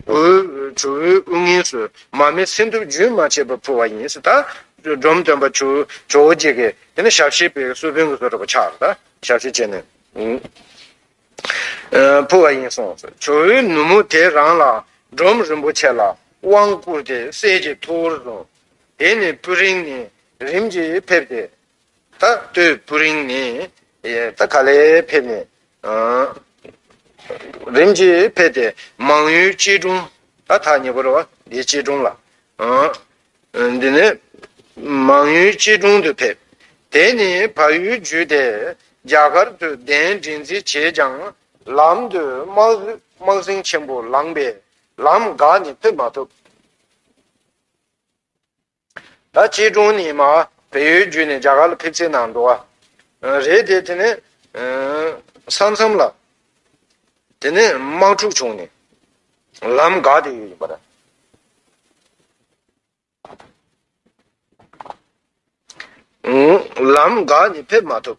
ཆུ་བོའི་དབུས་ངོས་སུ་མ་མེད་སྲིན་དུག་རྒྱུན་མ་ཆད་པར་འཕུར་བ་ཡིན། ད་སྒྲོམ་སྟོན་པ་ཇོ་བོ་རྗེ་ཀས་དེ་ནས་ཞབས་ཕྱི་པའི་གསོལ་དཔོན་གྱི་སོ་ཁྲ་པོ་ཕྱག་ན་ཞབས་ཕྱི་བྱས་ནས་འཕུར་བ་ཡིན་གསུངས་སོ། ཇོ་བོའི་ནུ་མོ་དེ་རང་ལ་སྒྲོམ་རིན་པོ་ཆེ་ལ་དབང་བསྐུར་ཏེ་གསེར་གྱི་ཐུར་བོར་བཟུང། དེ་ནས་སྤུ་རིང་ནས་རིམ་གྱིས་ཕེབས་ཏེ། ད་ལྟོས་སྤུ་རིང་ནས་ད་ག་ལེར་ཕེབས་ནས། རིམ་གྱིས་ཕེབས་ཏེ་མང་ཡུལ་སྐྱིད་གྲོང། ད་ཐག་ཉེ་པོར་བ་དེའི་སྐྱིད་གྲོང་ལ། འདི་ནི་མང་ཡུལ་སྐྱིད་གྲོང་དུ་ཕེབས། དེ་ནས་བ་ཡུལ་བརྒྱུད་དེ་རྒྱ་གར་དུ་གདན་འདྲེན་རྩིས་བྱས་ཀྱང། ལམ་དུ་དམག་ཟིང་ཆེན་པོ་ལངས་པས་ལམ་འགག་ནས་ཕེབས་མ་ཐུབ། ད་སྐྱིད་གྲོང་ནས་མ་བལ་ཡུལ་བརྒྱུད་ནས་རྒྱ་གར་ལ་ཕེབས་རྩིས་གནང་འགྲོ་བ་རེད་དེ་དེ་ནས་ས་མཚམས་ལ་དེ་ནས་དམག་འཁྲུག་བྱུང་ནས་ལམ་འགག་དེ་ཡོད་ཡིན་པ་རེད། ལམ་འགག་ནས་ཕེབས་མ་ཐུབ།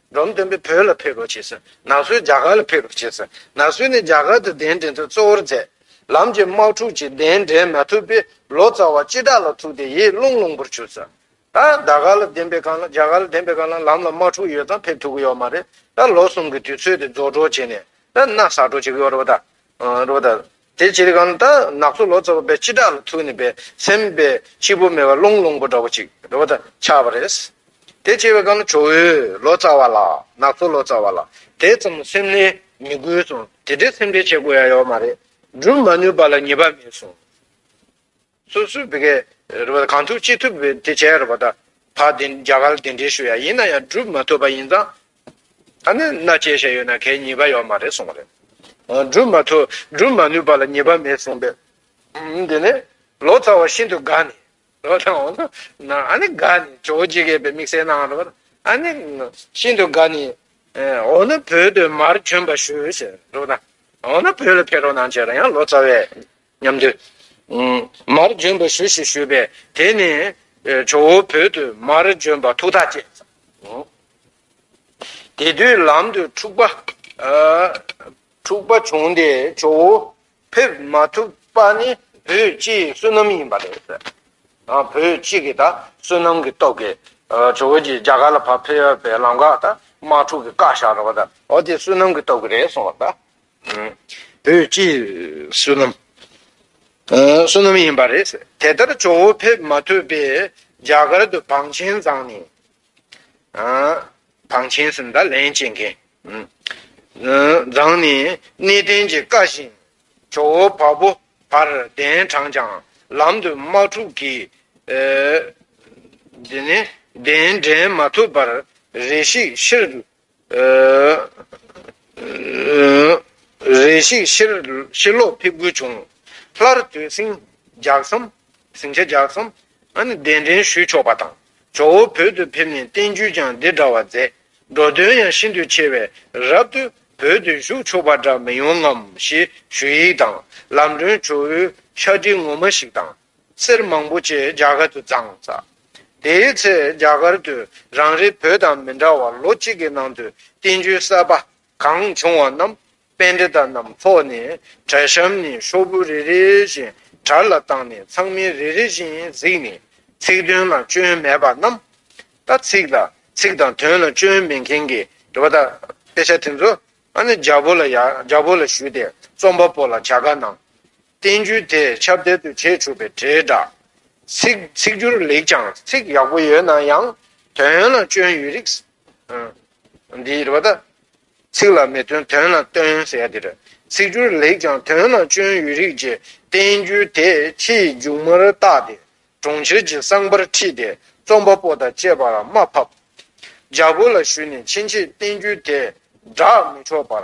འབྲོམ་སྟོན་པས་བོད་ལ་ཕེབས་རོགས་བྱས་ཟིན། ན་སོས་རྒྱ་གར་ལ་ཕེབས་རོགས་བྱས་ཟིན། ན་སོས་ནས་རྒྱ་གར་དུ་གདན་འདྲེན་ཚུལ་གཙོ་བོར་མཛད། ལམ་གྱི་དམག་འཁྲུག་ཅིག་གདན་འདྲེན་མ་ཐུབ་པས་ལོ་ཙཱ་བ་སྤྱི་བདག་ལ་ཐུག་སྟེ་ཡིད་བརླུང་བརླུང་པོར་གྱུར། ད་རྒྱ་གར་ལ་གདན་པའི་གང་ལ་རྒྱ་གར་ལ་གདན་པའི་གང་ལ་ལམ་ལ་དམག་འཁྲུག་ཡོད་ཙང་ཕེབས་ཐུབ་ཀྱི་ཡོད་མ་རེད། ད་ལོ་གསུམ་གྱི་དུས་ཚོད་དེ་རྫོགས་གྲོགས་བྱས་ནས། ན་སག་གྲོགས་བྱེད་ཀྱི་ཡོད་རེད་པ་ད། དེ་ཅི་རིགས་ཀྱང་ནི་ད་ནག་ཚོ་ལོ་ཙཱ་བ་བའི་སྤྱི་བསྒྲགས་ལ་ཐུག་ནས་པའི་སེམས་པའི་སྤྱིལ་པོ་མེ་བ་རླུང་རླུང་པོ་འདྲ་བོ་ཅིག་རེ་བ་ད་ཆགས་པ་རེད། དེ་སྐྱེ་བའི་ཀྱང་ནི་ཇོ་བོའི་ལོ་ཙཱ་བ་ལ་ནག་ཚོ་ལོ་ཙཱ་བ་ལ་དེ་ཙམ་སེམས་ལས་མི་དགོས་སོང་དེ་འདྲའི་སེམས་ཁྲལ་བྱེད་དགོས་ཡ་ཡོད་མ་རེད། སྒྲུབ་མ་ནུས་པ་ལ་ངེས་པ་མེད་སོང། སོ་སོའི་བི་གས་རེད་པ་ད་གང་ཐུབ་ཅི་ཐུབ་དེ་བྱས་རེད་པ་ད་ད་དེ་རྒྱ་གར་དེ་འདྲའི་ཞུ་ཡ་ཡིན་ན་ཡང་བསྒྲུབ་མ་ཐུབ་པ་ཡིན་ཙང་ད་ནི་མནའ་སྐྱེལ་བྱས་ཡོད་ན་གས་ཉེས་པ་ཡོད་མ་རེད་གསུངས་པ་རེད། བསྒྲུབ་མ་ཐུབ་བསྒྲུབ་མ་ནུས་པ་ལ་ཉེས་པ་མེད་གསུངས་པས་དེ་ནས་ལོ་ཙཱ་བ་ཤིན་ཏུ་དགའ་ནས་ལོ་ཙཱ་བ་ན་ཨ་ནི་དགའ་ནས་ཇོ་བོ་རྗེ་གས་པའི་དམིགས་བསལ་གནང་རེད་པ་ད་ཨ་ནི་ཤིན་ཏུ་དགའ་ནས་འོ་ན་བོད་དུ་མར་བྱོན་པ་ཞུ་ཟེར་རེད་པ་ད་འོ་ན་བོད་ལ་ཕེབས་རོགས་གནང་བྱས་རོགས་ཡང་ལོ་ཙཱ་བས། མཉམ་དུ། མར་འབྱོན་པར་ཞུ་ཞེས་ཞུས་པས་དེ་ནས། ཇོ་བོ་བོད་དུ་མར་འབྱོན་པར་ཐུགས་ཐག་བཅད། དེ་དུས་ལམ་དུ་འཁྲུག་པ། འཁྲུག་པ་བྱུང་སྟེ་ཇོ་བོ་ཕེབས་མ་ཐུབ་པ་ནི་བོད་སྤྱི་ཡི་བསོད་ནམས་ཡིན་པ་རེད། བོད་སྤྱི་གི་ད་བསོད་ནམས་ཀྱི་སྟོབས་ཀྱིས། ཇོ་བོ་རྗེ་རྒྱ་གར་ལ་ཕར་ཕེབས་པའི་ལམ་ཁར་ད་དམག་འཁྲུག་གི་བཀའ་ཤག་རོགས་ད་འོ་དེ་བསོད་ནམས་ཀྱི་སྟོབས་ཀྱིས་རེད་གསུངས་པ་ད། བོད་ཀྱི་བསོད་ནམས། བསོད་ནམས་ཡིན་པ་རེད། དེ་ལྟར་ཇོ་བོ་ཕེབས་མ་ཐུབ་པས་རྒྱ་གར་དུ་བང་ཆེན་བརྫངས་ནས། བང་ཆེན་ཟེར་ན་ད་ལན་བྱེད་མཁན། བརྫངས་ནས་གནས་བརྟན་གྱི་བཀའ་བཞིན་ཇོ་བོ་བ་པོ་བར་གདན་དྲངས་ཀྱང་ལམ་དུ་དམག་འཁྲུག་གིས། གདན་འདྲེན་མ་ཐུབ་པར་རེ་ཤིག་ཕྱིར་རེ་ཞིག་ཤི་ལོག་ཕེབས་དགོས་བྱུང། སླར་དུས་ཟིང་འཇགས་སམ། ཟིང་ཆ་འཇགས་སམ། གདན་འདྲེན་ཞུས་ཆོག་པ་དང། ཇོ་བོ་བོད་དུ་ཕེབས་ནས་བསྟན་བཅོས་ཀྱང་འདི་འདྲ་བ་མཛད། འགྲོ་དོན་ཡང་ཤིན་ཏུ་ཆེ་བས་རབ་ཏུ་བོད་དུ་བཞུགས་ཆོག་པ་འདྲ་མི་ཡོང་ངམ་ཞེས་ཞུ་ཡིག་དང་ལམ་སྒྲོན་ཇོ་བོའི་ཤག་དྲིལ་ངོ་མ་ཞིག་དང། གསེར་མང་པོ་བཅས་རྒྱ་གར་དུ་བརྫངས། དེའི་ཚེ་རྒྱ་གར་དུ་རང་རེའི་བོད་དང་མི་འདྲ་བར་ལོ་གཅིག་གི་ནང་དུ་བསྟན་བཅོས་གསར་པ་གང་བྱུང་བ་རྣམས་དཔེ་འབྲི་དག་རྣམས་ཕོག་ནས་གྲལ་གཤམ་ནས་ཤོག་བུ་རེ་རེ་བཞིན་དྲར་ལ་བཏང་ནས་ཚང་མས་རེ་རེ་བཞིན་གཟིགས་ནས་ཚིག་དོན་ལ་སྐྱོན་མེད་པ་རྣམས་དང་ཚིག་ལ་ཚིག་དང་དོན་ལ་སྐྱོན་མེད་མཁན་གྱི་འདྲི་བ་དག་དཔེ་ཆ་དེ་ཚོ་རྒྱ་བོད་ལ་ཞུས་ཏེ་རྩོམ་པ་པོ་ལ་བྱ་དགའ་གནང། བསྟན་བཅོས་དེས་ཁྱབ་བརྡལ་དུ་བྱས་ཆོག་པའི་དྲིལ་བསྒྲགས། ཚིག་ཚིག་སྒྱུར་ལེགས་ཀྱང་ཚིག་ཡག་པོ་ཡོད་ན་ཡང་དོན་ལ་སྐྱོན་ཡོད་རིགས། འདི་རེད་པ་ད། ཚིག་ལ་མི་སྟོན་དོན་ལ་སྟོན་ཟེར་ཡ་དེ་རེད། ཚིག་སྒྱུར་ལེགས་ཀྱང་དོན་ལ་སྐྱོན་ཡོད་རིགས་ཀྱི་བསྟན་བཅོས་དེས་ཁྱི་ཡི་མཇུག་མར་བཏགས་ཏེ་གྲོང་ཁྱེར་གྱི་གསང་པར་ཁྲིད་དེ་རྩོམ་པ་པོ་དང་བཅས་པར་དམའ་ཕབ། རྒྱ་བོད་ལ་བཞུད་ནས་ཕྱིན་ཆད་བསྟན་བཅོས་དེ་བསྒྲགས་མི་ཆོག་པར་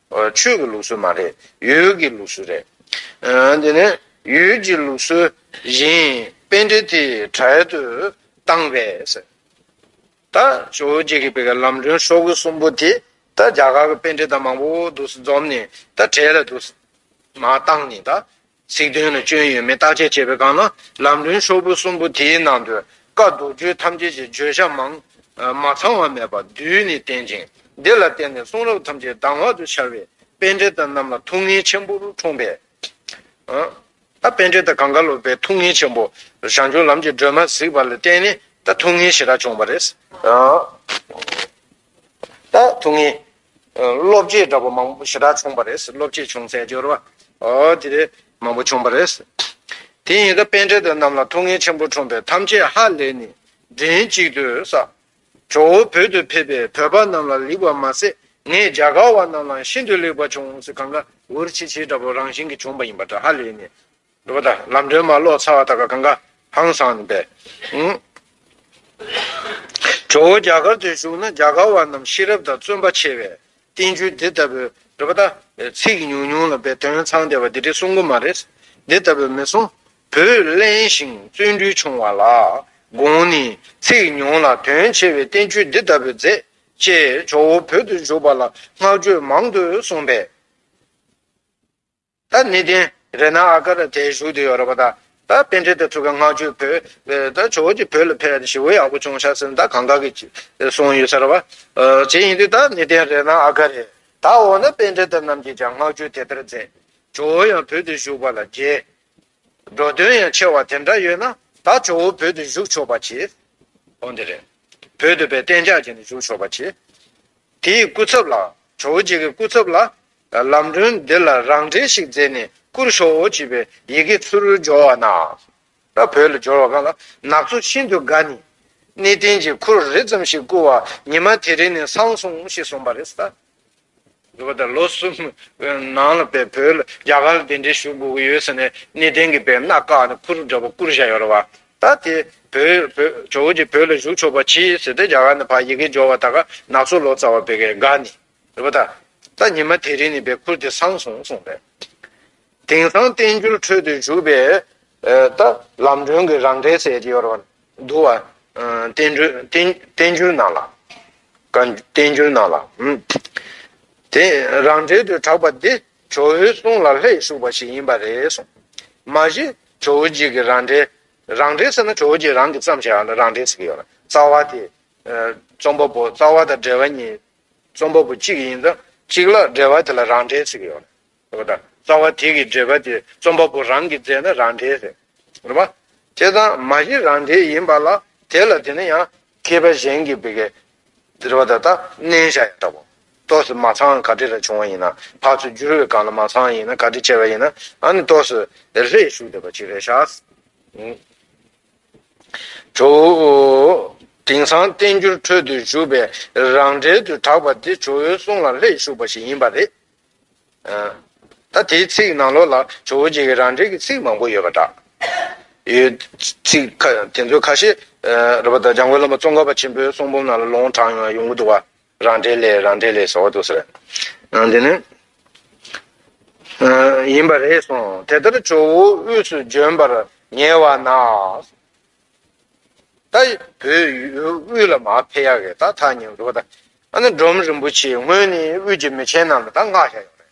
ཆོས་ཀྱི་ལུགས་སྲོལ་མ་རེད། ཡུལ་གྱི་ལུགས་སྲོལ་རེད། དེ་ནས་ཡུལ་གྱི་ལུགས་སྲོལ་བཞིན་དཔེ་འགྲེལ་དེ་གྲལ་དུ་བཏང་བས། ད་ཇོ་བོ་རྗེ་ཀྱི་ལམ་སྒྲོན་ཤོག་བུ་གསུམ་པོ་དེ་ད་རྒྱ་གར་གྱི་དཔེ་འགྲེལ་དང་མང་པོ་འདུག་སེ་འཛོམས་ནས་ད་གྲལ་ལ་འདུག་སེ། མ་བཏང་ནས་ད་ཚིག་དོན་ལ་སྐྱོན་ཡོད་མེད་བརྟག་དཔྱད་བྱེད་པའི་སྒང་ལ་ལམ་རིམ་ཤོག་བུ་གསུམ་པོ་དེའི་ནང་དུ་བཀའ་མདོ་རྒྱུད་ཐམས་ཅད་ཀྱི་བརྗོད་བྱ་མང། མ་ཚང་བ་མེད་པ་བསྡུས་ནས་བསྟན་ཅིང་འདི་ལ་བརྟེན་ནས་གསུང་རབ་ཐམས་ཅད་གདམས་ངག་ཏུ་འཆར་བས་དཔེ་འགྲེལ་ཟླ་རྣམས་ལ་ཐུགས་ངལ་ཆེན་པོར་འཁྲུངས་པས། ད་དཔེ་འགྲེལ་ཟླ་གངས་དཀར་སློབ་པའི་ཐུགས་ངལ་ཆེན་པོ། ཞང་ཆུང་ལམ་གྱི་སྒྲོན་མ་གཟིགས་པ་ལ་བརྟེན་ནས་ད་ཐུགས་ངལ་ཞེ་དྲག་བྱུང་བ་རེད། ཐུགས་ངེས། བློ་བསྐྱེད་འདྲ་པོ་མང་པོ་ཞེ་དྲག་བྱུང་བ་རེད། བློ་བསྐྱེད་བྱུང་ཚད་སྦྱོར་བ། དེ་རེད། མང་པོ་བྱུང་བ་རེད། དེ་ཡིན་ད་དཔལ་འཕྲལ་དུ་རྣམས་ལ་ཐུགས་ངེས་ཆེན་པོ་འཁྲུངས་པས་ཐམས་ཅད་ཧ་ལས་ནས་མགྲིན་གཅིག་ཏུ་བསགས། ཇོ་བོ་བོད་དུ་ཕེབས་པས་བོད་པ་རྣམས་ལ་ལེགས་པར་མ་ཟད་ངས་རྒྱ་གར་བ་རྣམས་ལའང་ཤིན་ཏུ་ལེགས་པར་བྱུང་ཟེར་གང་གཱའི་འུར་ཆིལ་ཆིལ་འདྲ་པོ་རང་བཞིན་གྱིས་བྱུང་བ་ཡིན་པ་འདྲ་ཧ་ལས་ནས། འགྲོ་བ་དང་ལམ་སྒྲོན་མ་གློག་ཚ་བ་དག་གི་གང་ག་ཧང་སངས་པས། ཇོ་བོ་རྒྱ་གར་དུ་བཞུགས་ན་རྒྱ་གར་བ་རྣམས་ཤེས་རབ་དང་བརྩོན་པ་ཆེ་བས་བསྟན་བཅོས་འདི་ལྟ་བུ། འགྲོ་བ་དང། ཚིག་ཉུང་ཉུང་ལ་བས་དོན་ཚང་སྟེ་བ་འདི་རེ་གསུང་གི་མ་རེད། འདི་ལྟ་བུ་མི་གསུང། བུ་གླེན་ཞིང་བརྩོན་འགྲུས་ཆུང་བ་ལ་དགོངས་ནས་ཚིག་ཉུང་ལ་དོན་ཆེ་བས་བསྟན་བཅོས་འདི་ལྟ་བུ་མཛད། ཅེས་ཇོ་བོ་བོད་དུ་བཞུགས་པ་ལ་བསྔགས་བརྗོད་མང་དུ་གསུངས་པས། ད་ནི་དེང་རེ་ན་ཨ་ཀ་ར་དེའི་གཞུག་དེ་ཡོད་རེད་པ་ད། ད་དཔེ་འདྲེ་དེ་ཕྲུ་ག་ལྔ་བཅུ་བོས། ད་ཇོ་བོ་གྱི་བུ་ལ་ཕེབས་ཏེ་ཞི་བོ་ཡག་པོ་བྱུང་ཤག་ཟེར་ནས་ད་གང་ག་གི་སོང་ཡོད་ཟེར་བ། བྱེད་ཡིན་དུས་ད་ནི་དེང་རེ་ན་ཨ་ཀ་རས། ད་འོ་ན་དཔེ་འདྲེ་དེ་རྣམས་ཀྱིས་ཀྱང་སྔགས་རྒྱུད་དེ་ལྟར་མཛད། ཇོ་བོ་ཡང་བོད་དུ་བཞུགས་པ་ལ་རྒྱལ། འགྲོ་དོན་ཡང་ཆེ་བ་དེ་འདྲ་ཡོད་ན། ད་ཇོ་བོ་བོད་དུ་བཞུགས་ཆོག་པ་གྱིས། འོ་འདི་རེད། བོད་དུ་བས་གཏན་འཇགས་བྱས་ནས་བཞུགས་ཆོག་པ་གྱིས། དེའི་སྐུ་ཚབ་ལ། ཇོ་བོ་རྗེ་གི་སྐུ་ཚབ་ལ། ལམ་སྒྲོན་འདི་ལ་རང་འགྲེལ་ཞིག་མཛད་ནས་བསྐུར་ཞོག་ཅེས་པའི་ཡི་གེ་ཚུར་སྦྱོར་བ་ན། ད་བོད་ལ་སྦྱོར་བ་གང་ལ་ནག་ཚོ་ཤིན་ཏུ་དགའ་ནས། གནས་བརྟན་གྱི་ཁུར་རེ་ཙམ་ཞིག་བསྐུར་བ་ཉི་མ་དེ་རིང་ནས་སང་སོང་ཞེས་གསུངས་པ་རེད། འདུག་པ་དང་ལོ་གསུམ་ནང་ལ་བོད་ལ་རྒྱ་གར་ལ་གདན་འདྲེན་ཞུ་དགོས་ཀྱི་ཡོད་ཟེར་ནས་གནས་བརྟན་གྱི་བེར་ནག་བཀག་ནས་ཁུར་འདྲ་པོ་བསྐུར་བཞག་ཡོད་རེད་བ། ད་དེ་བོད་ཇོ་བོ་རྗེ་བོད་ལ་བཞུགས་ཆོག་པ་གྱིས་ཟེར་ཏེ་རྒྱ་གར་ནས་ཕར་ཡི་གེ་སྦྱོར་བ་ད་ག་ནག་ཚོ་ལོ་ཙཱ་བ་བོད་དགའ་ནས། ཟེར་བ་དང། ད་ཉི་མ་དེ་རིང་ནི་བའི་ཁུར་དེ་སངས་སོང་གསུངས་པས། དེང་སང་བསྟན་འགྱུར་ཁྲོད་དུ་བཞུགས་པའི། ད་ལམ་སྒྲོན་གྱི་རང་འགྲེལ་ཟེར་གྱི་ཡོད་རེད། འདུག་བ། བསྟན་འགྱུར་ནང་ལ། བསྟན་འགྱུར་ནང་ལ། དེ་རང་འགྲེལ་དུ་གྲགས་པ་འདི་ཇོ་བོའི་གསུང་ལ་ལྷད་ཞུགས་པ་ཞིག་ཡིན་པ་རེད་གསུངས། མ་གཞི་ཇོ་བོ་རྗེས་ཀྱི་རང་འགྲེལ། རང་འགྲེལ་ཟེར་ན་ཇོ་བོ་རྗེས་རང་གིས་བརྩམས་བྱས་ཡང་ན་རང་འགྲེལ་ཟེར་གྱི་ཡོད་རེད། རྩ་བ་དེ། རྩོམ་པ་པོ་རྩ་བ་དང་འགྲེལ་བ་གཉིས་རྩོམ་པ་པོ་གཅིག་ཡིན་ཙང་གཅིག་ལ་འབྲེལ་བ་དེ་ལ་རང་འགྲེལ་ཟེར་གྱི་ཡོད། རེད་དམ། རྩ་བ་དེ་གི་འབྲེལ་པ་དེ་རྩོམ་པ་པོ་རང་གིས་མཛད་ན་རང་འགྲེལ་ཟེར། རེད་མ། དེ་ཙང་མ་གཞི་རང་འགྲེལ་ཡིན་པ་ལ་དེ་ལ་དེ་ནི་ཡང། མཁས་པ་གཞན་གྱིས་བི་གའི། འདིར་བ་ད་ལྟ་མནན་བཞག་ཡང་དག་པོ། ཏོག་སི་མ་ཚང་ག་དྲི་ལ་བྱུང་བ་ཡིན་ན་བག་ཚོ་འགྱུར་བའི་སྒང་ལ་མ་ཚང་ཡིན་ན་ག་དྲི་ཆེ་བ་ཡིན་ན་ཨ་ནི་ཏོག་སི། ལྷད་ཞུགས་འདི་པ་གཅིག་རེད་ཤག། དྲུག། དེང་སང་བསྟན་འགྱུར་ཁྲོད་དུ་བཞུགས་པའི་རང་འགྲེལ་དུ་གྲགས་པ་འདི་ཇོ་བོའི་གསུང་ལ་ལྷད་ཞུགས་པ་ཞིག་ཡིན་པ་རེད། ད་དེའི་ཚིག་ནང་ལོགས་ལ་ཇོ་བོ་རྗེ་ཡི་རང་འགྲེལ་གྱི་ཚིག་མང་པོ་ཡོད་པ་འདྲ། ཚིག་དེ་ཚོའི་ཁ་ཤས། རབ་བདག་འཇམ་མགོན་བླ་མ་ཙོང་ཁ་པ་ཆེན་པོའི་གསུང་འབུམ་ནང་ལ་ལོང་དྲངས་ཡོང་གི་འདུག་བ། རང་འགྲེལ་ལས་རང་འགྲེལ་ལས་སོགས་ཟེར། འདི་ནི། ཡིན་པ་རེད་གསུངས། དེ་ལྟར་ཇོ་བོ་དབུས་སུ་བྱོན་པར་ཉེ་བ་ན། ད་བོད་དབུས་ལ་མ་ཕེབས་ཡག་གི་ད་ཐག་ཉེ་བ་འདུག་གདའ། ཨ་ན་འབྲོམ་རིན་པོ་ཆེའི་སྔོན་ནི་དབུས་ཀྱི་མི་ཆེན་རྣམས་ལ་ད་མངགས་བཞག་ཡོད་རེད།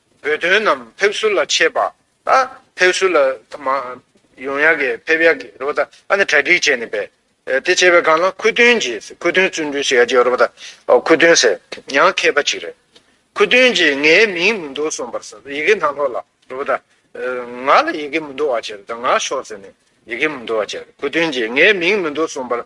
བོད་དོན་རྣམས་ཕེབས་བསུ་ལ་ཆས་པ། ཕེབས་བསུ་ལ་ཡོང་ཡག་གི་ཕེབས་ཡག་གི་རོ་པ་ད་གྲ་སྒྲིག་བྱས་ནས་པས། དེ་བྱས་པའི་སྒང་ལ་ཁུ་སྟོན་གྱིས་ཁུ་སྟོན་བཙུན་གྲོལ་བྱེད་ཡག་གི་རོ་པ་ད་ཁུ་སྟོན་ཟེར་ཡང་མཁས་པ་ཅིག་རེད། ཁུ་སྟོན་གྱིས་ངའི་མིང་མི་འདོགས་སོང་པར་ཟེར་ཡི་གེ་ནང་ལོག་ལ་རོ་པ་ད། ང་ལ་ཡི་གེ་མི་འདོགས་བ་ཅེར་ད་ང་ཤོག་ཟེར་ནས་ཡི་གེ་མི་འདོགས་བ་ཅེར་ཁུ་སྟོན་གྱིས་ངའི་མིང་མི་འདོགས་སོང་པར་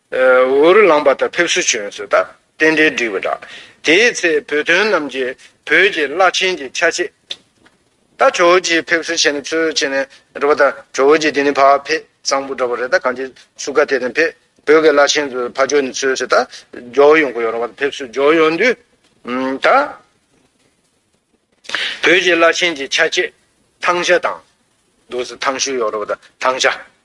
འུ་རུ་ལངས་པ་དང་ཕེབས་བསུ་བྱོན་ཟོས་ད་རྟེན་འབྲེལ་འགྲིག་པ་འདྲ། དེའི་ཚེ་བོད་དོན་རྣམས་ཀྱི་བོད་ཀྱི་བླ་ཆེན་གྱི་ཆ་བྱད། ད་ཇོ་བོ་རྗེས་ཕེབས་བསུ་བྱེད་ན་ཚོད་བྱེད་ནས་འགྲོ་པ་ད་ཇོ་བོ་རྗེ་དེ་ནི་ཕ་ཕེ་གཙང་པོ་འདྲ་པོ་རེད་ད་གང་ཅི་སུ་ག་དེ་དང་ཕེ་བོད་ཀྱི་བླ་ཆེན་ཚོ་ཕ་ཇོ་ནི་ཚོད་བྱེད་ད་ཇོ་བོ་ཡོང་གི་ཡོད་རང་བ་ད་ཕེབས་བསུ་ཇོ་ཡོང་དུས། ད་བོད་ཀྱི་བླ་ཆེན་གྱི་ཆ་བྱད་ཐང་ཤ་དང། འདུག་ཟེར་ཐང་ཤུ་ཡོང་རང་བ་ད་ཐང་ཤ།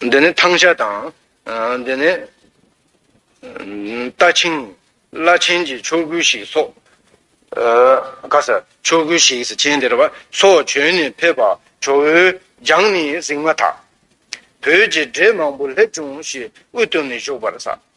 འདི་ནི་ཐང་ཤ་དང། འདི་ནི། རྟ་ཆིངས། བླ་ཆེན་གྱི་མཆོག་གུ་ཞིག་སོགས། ག་ས། མཆོག་གུ་ཞིག་ཟེར་མཁན་དེ་རེད་པ། སོགས་བྱོན་ནས་ཕེབས་པ་ཇོ་བོའི་རྒྱང་ནི་གཟིགས་མ་ཐག། བོད་ཀྱི་འདྲེ་མང་པོ་སླེབས་བྱུང་ཞེས་དབུ་བཏུམས་ནས་བཞུགས་པར་གསལ།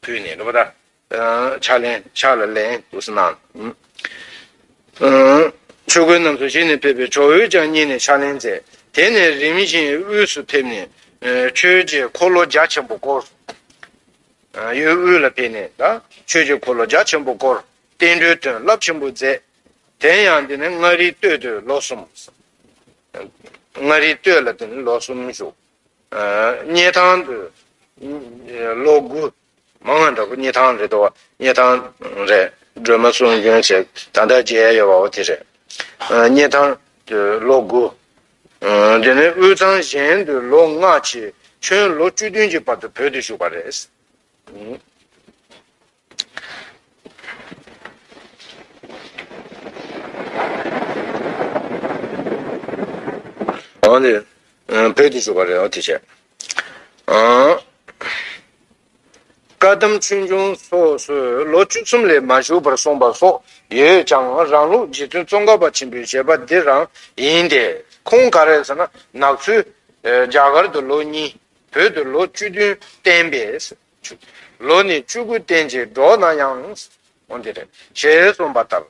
བུས་ནི་རུ་པ་ད། ཕྱག་ལེན་ཕྱག་ལ་ལེན་དུ་སྣང། ཆོས་གོས་རྣམས་སུ་བྱིན་ནས་ཕེབས་པའི་ཇོ་བོས་ཀྱང་མཉེས་ནས་ཕྱག་ལེན་མཛད། དེ་ནས་རིམ་བཞིན་དབུས་སུ་ཕེབས་ནས། ཆོས་ཀྱི་འཁོར་ལོ་རྒྱ་ཆེན་པོ་བསྐོར། གཡས་དབུས་ལ་ཕེབས་ནས་ད། ཆོས་ཀྱི་འཁོར་ལོ་རྒྱ་ཆེན་པོ་བསྐོར། བསྟན་འགྲོའི་དོན་བསླབ་ཆེན་པོ་མཛད། དེ་ཡང་འདི་ནི་མངའ་རིས་སྟོད་དུ་ལོ་གསུམ། མངའ་རིས་སྟོད་ལ་འདི་ནི་ལོ་གསུམ་བཞུགས། རྙེད་ཐང་དུ། ལོ་དགུ། མ་ང་འདྲ་པོ་རྙེད་ཐང་རེད་དོ། རྙེད་ཐང་རེད། སྒྲོལ་མ་གསུང་རྒྱུན་ཆེ་ད་ལྟ་རྒྱལ་ཡོད་པའོ་དེ་རེད། རྙེད་ཐང་དུ་ལོ་དགུ། དེ་ནས་དབུས་གཙང་གཞན་དུ་ལོ་ལྔ་ཕྱིན། ཁྱོད་ལོ་བཅུ་བདུན་གྱི་བར་དུ་བོད་དུ་བཞུགས་པ་རེད། དམ་ཆོས་འབྱུང་སོགས་སུ་ལོ་བཅུ་གསུམ་ལས་མ་བཞུགས་པར་གསུངས་པ་སོགས་ཡོད་ཀྱང་རང་ལུགས་རྗེ་བཙུན་ཙོང་ཁ་པ་ཆེན་པོའི་བཞེད་པ་འདི་རང་ཡིན་ཏེ། ཁོང་ག་རེ་ཟེར་ན་ནག་ཆུ། རྒྱ་གར་དུ་ལོ་གཉིས། བོད་དུ་ལོ་བཅུ་བདུན་བསྟན་པས། ལོ་ནི་བཅུ་དགུ་བརྟན་ཅིང་འགྲོགས་ན་ཡང། འོན་ཏེ། ཞེས་གསུངས་པ་ལྟར།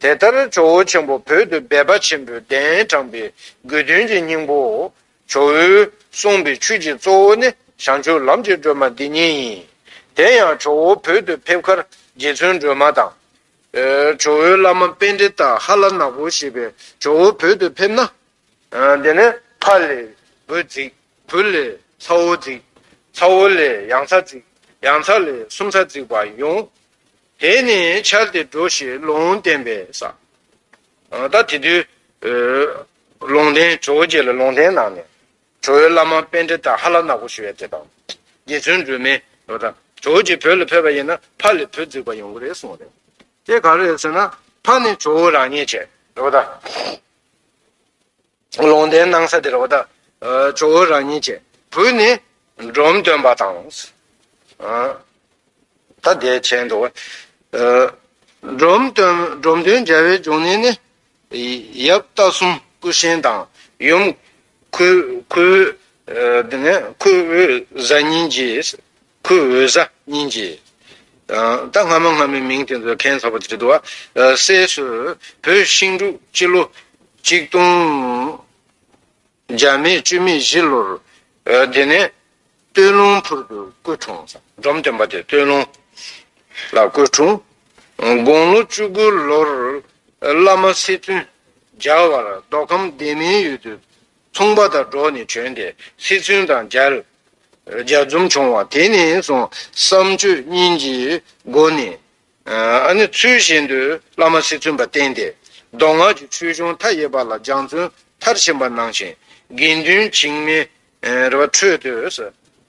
དེ་ལྟར་ཇོ་བོ་ཆེན་པོ་བོད་དུ་སྦས་པ་ཆེན་པོའི་གདན་དྲངས་པའི་དགོས་དོན་གྱི་སྙིང་པོ། ཇོ་བོའི་གསུངས་པའི་ཆོས་ཀྱི་གཙོ་བོ་ནི་བྱང་ཆུབ་ལམ་གྱི་སྒྲོན་མ་འདི་ཉིད་ཡིན། དེ་ཡང་ཇོ་བོ་བོད་དུ་ཕེབས་ཁར་རྗེ་བཙུན་སྒྲོལ་མ་དང། ཇོ་བོའི་བླ་མ་དཔལ་འབྲི་སྟག་ཧ་ལ་ནག་པོ་ཞེས་པས་ཇོ་བོ་བོད་དུ་ཕེབས་ན། འདི་ནི་ཕ་ལས་བུ་འཛིགས། བུ་ལས་ཚ་བོ་བརྫིག། ཚ་བོ་ལས་ཡང་ཚ་བརྫིག། ཡང་ཚ་ལས་སུམ་ཚ་བརྫིག་པ་ཡོང། དེ་ནི་འཆར་ཏེ་འགྲོ་ཞེས་ལུང་བསྟན་པས་ས། ད་དེ་དུས། ལུང་བསྟན་ཇོ་བོ་རྗེ་ལ་ལུང་བསྟན་གནང་ནས། ཇོ་བོའི་བླ་མ་དཔལ་འདྲེ་དང་ཧ་ལ་ནག་པོ་ཞུ་བའི་དེ་དང། རྗེ་བཙུན་སྒྲོལ་མས། ཇོ་བོ་རྗེ་བོད་ལ་ཕེབས་པ་ཡིན་ན་ཕ་ལས་བུ་བརྫིག་པ་ཡོང་གི་རེད་གསུངས་རེད། དེ་ག་རེད་ཟེར་ན། ཕ་ནི་ཇོ་བོ་རང་ཉིད་བྱས། ལུང་བསྟན་གནང་ས་དེར་བ་ད་ཇོ་བོ་རང་ཉིད་ཀྱི་བུ་ནི་འབྲོམ་སྟོན་པ་དང། ད་དེའི་མཆན་དུ། འབྲོམ་སྟོན་འབྲོམ་སྟོན་རྒྱལ་བའི་འབྱུང་གནས་ནི། ཡབ་རྟ་གསུམ་སྐུ་གཤེན་དང་ཡུམ་ཁུ་བོའི་གཟའ་ཉིན་གྱིས། ཁོའི་འོད་ཟ་སྙིང་རྗེ། ད་སྔ་མ་སྔ་མའི་མིང་དེ་ཚོ་མཁན་ཚོགས་པ་དྲི་དུ་བ། སྲས་སུ། བོད་ཤིང་འབྲུག་སྤྱི་ལོ། གཅིག་སྟོང། བརྒྱ་མེད་བཅུ་མེད་བཞི་ལོར། དེ་ནས། སྟོད་ལུང་ཕུར་དུ་སྐུ་འཁྲུངས། འབྲོམ་སྟོན་པ་དེ་སྟོད་ལུང། ལ་སྐུ་འཁྲུངས། དགུང་ལོ་བཅུ་དགུ་ལོར། བླ་མ་སི་ཐུན། རྒྱལ་བར་མདོ་ཁམས་སྡེ་མིའི་ཡུལ་དུ། ཚོང་པ་དང་འགྲོགས་ནས་བྱོན་ཏེ་སི་ཚུན་དང་མཇལ། མཇལ་འཛོམས་བྱུང་བ་དེ་ནས་བཟུང་བསམ་སྤྱོད་གཉིས་ཀྱི་སྒོ་ནས། ཚུལ་བཞིན་དུ་བླ་མ་སི་ཚུན་པ་བསྟེན་ཏེ། མདོ་སྔགས་ཀྱི་ཆོས་གཞུང་མཐའ་ཡས་པ་ལ་སྦྱངས་བརྩོན་མཐར་ཕྱིན་པ་གནང་ཞིང། དགེ་འདུན་བྱིངས་མའི་ཁྲོད་དུ།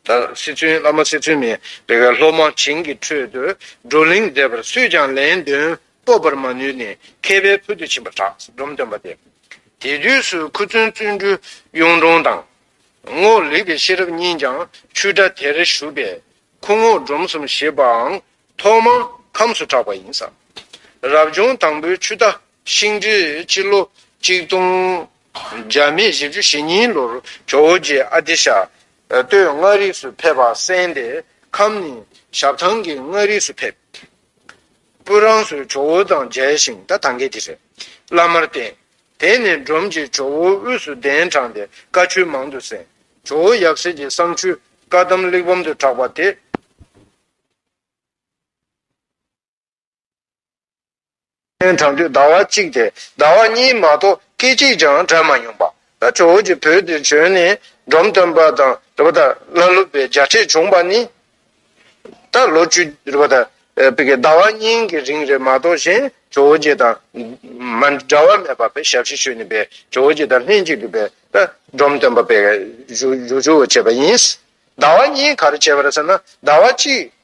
བླ་མ་སི་ཚུན་མའི་སློབ་མ་བྱིངས་ཀྱི་ཁྲོད་དུ་བགྲོ་གླེང་མཛད་པར་སུས་ཀྱང་ལན་ལྡོན་སྤོབས་པར་མ་ནུས་ནས་མཁས་པའི་ཕུལ་དུ་ཕྱིན་པར་གྲགས་ཞེས་སྒྲོམ་སྟོན་པ་སྟེ། དེ་དུས་སུ་ཁུ་ཙུན་བརྩོན་འགྲུས་གཡུང་དྲུང་དང། རྔོག་ལེགས་པའི་ཤེས་རབ་གཉིས་ཀྱང་ཆུ་སྒྲ་དེར་བཞུགས་པས་ཁུ་རྔོག་སྒྲོམ་གསུམ་ཞེས་པའང་ཐོག་མར་ཁམས་སུ་གྲགས་པ་ཡིན། ས་རབ་བྱུང་དང་པོའི་ཆུ་རྟ་ཤིང་འབྲི་སྤྱི་ལོ་གཅིག་སྟོང། རྒྱ་མི་བཞི་བཅུ་ཞེ་གཉིས་ལོར་ཇོ་བོ་རྗེ་ཨ་ཏི་ཤ་སྟོད་མངའ་རིས་སུ་ཕེབས་པ་གསན་ཏེ་ཁམས་ནས་ཞབས་ཐང་གི་མངའ་རིས་སུ་ཕེབས། པོ་རང་སོའི་ཇོ་བོ་དང་མཇལ་ཞིང་ད་ཐང་གི་དེ་རེད། བླ་མར་བསྟེན། དེ་ནས་འབྲོམ་གྱི་ཇོ་བོའི་དབུས་སུ་གདན་དྲངས་ཏེ་བཀའ་ཆོས་མང་དུ་གསན། ཇོ་བོ་ཡབ་སྲས་ཀྱི་གསང་ཆོས་བཀའ་གདམས་གླེགས་བམ་དུ་གྲགས་པ་དེ། སྟོན་གྲངས་དུས་ཟླ་བ་གཅིག་སྟེ་ཟླ་བ་གཉིས་མ་གཏོགས་སྐད་ཅིག་ཀྱང་གྲགས་མ་མྱོང་པ། ད་ཁྲོ་བོ་ཀྱི་བུ་དེ་བྱོན་ནས་འབྲོམ་སྟོན་པ་དང་རེ་བ་ཏཱ་བླ་སློབ་པའི་བརྒྱ་ཕྲད་བྱུང་པ་ནི། ད་ལོ་བཅུ་རེ་བ་ཏཱ་ཟླ་བ་གཉིས་ཀྱི་རིང་རེ་མ་གཏོགས་གཞན་ཁྲོ་བོ་ཀྱེ་དང་མ་འདྲ་བ་མེད་པ་བས་ཞབས་ཕྱི་ཞུས་ནས་པའི་ཁྲོ་བོ་ཀྱེ་དང་ལྷན་ཅིག་གི་པའི་ད་འབྲོམ་སྟོན་པ་པའི་བཞུགས་བཞུགས་བྱས་པ་ཡིན། ཟླ་བ་གཉིས་ག་རེ་བྱས་པར་ཟེར་ན་ཟླ་བ་གཅིག་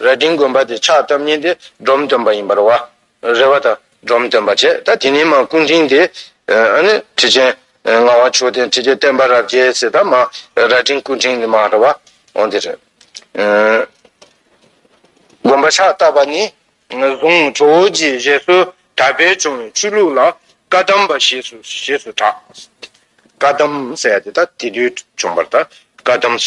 རལ་གྲིའི་མགོན་པ་དེ་ཕྱག་བཏབ་ཉིན་དེ་སྒྲོམ་སྟོན་པ་ཡིན་པར་བ་རེ་བ་དང་སྒྲོམ་སྟོན་པ་བྱས་ད་དེ་ནས་མ་སྐུ་མགྲིན་དེ་ནི་ཁྲི་ཆེན་ངག་དབང་མཆོག་ལྡན་ཁྲི་ཀའི་བསྟན་པ་རབ་རྒྱས་ཟེར་ད་མ་རལ་གྲིའི་སྐུ་མགྲིན་ནི་མ་རེ་བ་འོང་དེ་རེད། མགོན་པ་ཕྱག་བཏབ་པ་ནས་བཟུང་ཇོ་བོ་རྗེའི་བཞེད་སྲོལ་དར་སྤེལ་བྱུང་བའི་ཆོས་ལུགས་ལ་བཀའ་གདམས་པ་ཞེས་སུ་ཞེས་སུ་གྲགས། བཀའ་གདམས་ཟེར་ཡ་དེ་ད་དེ་དུས་བྱུང་བར་ད་བཀའ་གདམས།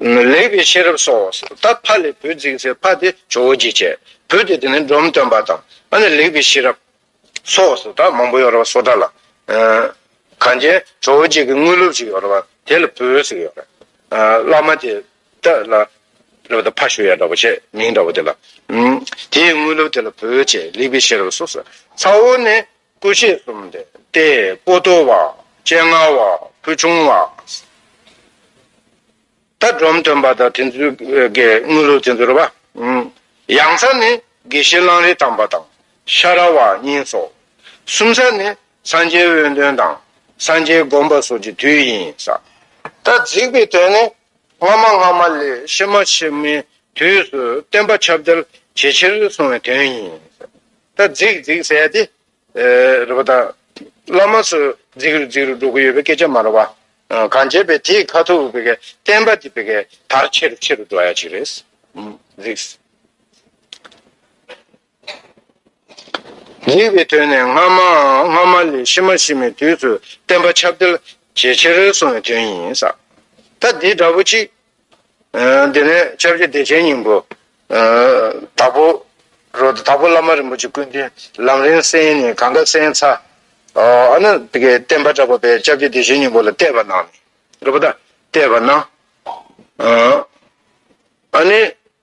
ལེགས་པའི་ཤེས་རབ་སོགས་བ་སོ། ད་ཕ་ལས་བུ་འཛིན་སའི་ཕ་དེ་ཇོ་བོ་རྗེ་བྱས། བུ་དེ་དེ་ནས་འབྲོམ་སྟོན་པ་དང། ཨ་ནི་ལེགས་པའི་ཤེས་རབ། སོགས་བ་སོ། ད་མང་པོ་ཡོད་རེད་བ་སོ་ད་ལ། གངས་ཅན་ཇོ་བོ་རྗེ་གི་དངོས་སློབ་ཅིག་ཡོད་རེད་བ། དེ་ལ་བུ་ཟེར་གི་ཡོད་རེད། བླ་མ་དེ་ད་ལ། རེད་བ་ད་ཕ་ཞོ་ཡ་འདྲ་བོ་བྱས་མིང་འདྲ་བོ་དེ་ལ། དེའི་དངོས་སློབ་དེ་ལ་བུ་བྱས་ལེགས་པའི་ཤེས་རབ་སོགས་སོ། ཚ་བོ་ནི་སྐུ་མཆེད་གསུམ་སྟེ་སྐུ་རྡོ་བ། སྤྱན་སྔ་བ། ཕུལ་བྱུང་བ། མཐའ་སྒྲོམ་སྟོན་པ་དང་དེ་ཚུལ་དགེ་དངོས་ལུགས་དེ་ཚོར་བ། ཡང་ཚ་ནི་དགེ་བཤེས་གླང་རི་དམ་པ་དང་ཤ་ར་བ་གཉིས་སོ། གསུམ་ཚ་ནི་སངས་རྒྱས་དབོན་སྟོན་དང་སངས་རྒྱས་དགོངས་པ་སོགས་ཀྱི་དུས་ཡིན་ས། ད་གཟིགས་པའི་དོན་ནི་སྔ་མ་སྔ་མ་ལས་ཕྱི་མ་ཕྱི་མའི་དུས་སུ་བསྟན་པ་ཁྱབ་བརྡལ་ཇེ་ཆེར་སོང་བའི་དོན་ཡིན་ས། ད་རྫིག་རྫིག་ཟེར་ཡ་དེ། རེད་པ་དང། བླ་མ་ཚོས་རྫིག་རུ་རྫིག་རུ་འགྲོ་གི་ཡོད་པའི་སྐད་ཆ་མ་རེད་པ། གང་བྱས་པས་དེའི་ཁ་ཐུག་བེ་གའི་བསྟན་པ་དེ་བེ་གའི་དར་ཆེ་རུ་ཆེ་རུ་འགྲོ་ཡ་གཅིག་རེད། རྫིག། རྫིག་པའི་དོན་ནི་སྔ་མ་སྔ་མ་ལས་ཕྱི་མ་ཕྱི་མའི་དུས་སུ་བསྟན་པ་ཁྱབ་བརྡལ་ཇེ་ཆེར་སོང་བའི་དོན་ཡིན། ད་འདི་འདྲ་པོ་གཅིག། དེ་ནས་ཆོས་རྗེ་བདེ་ཆེན་སྙིང་པོ། དྭགས་པོ། རོ། དྭགས་པོ་བླ་མ་རིན་པོ་ཆེ་ཀུན་ལྡན་ལམ་རིང་བསྲེལ་ནས་གངས་དཀར་སེང་ཚ། ཨ་ན། བསྟན་པ་གྲགས་པ་པའི་ལྕགས་ཀྱུ་བདེ་ཆེན་སྙིང་པོ་ལ་གཏད་པ་གནང། རེད་པ་ད། གཏད་པ་གནང། ཨ་ནི།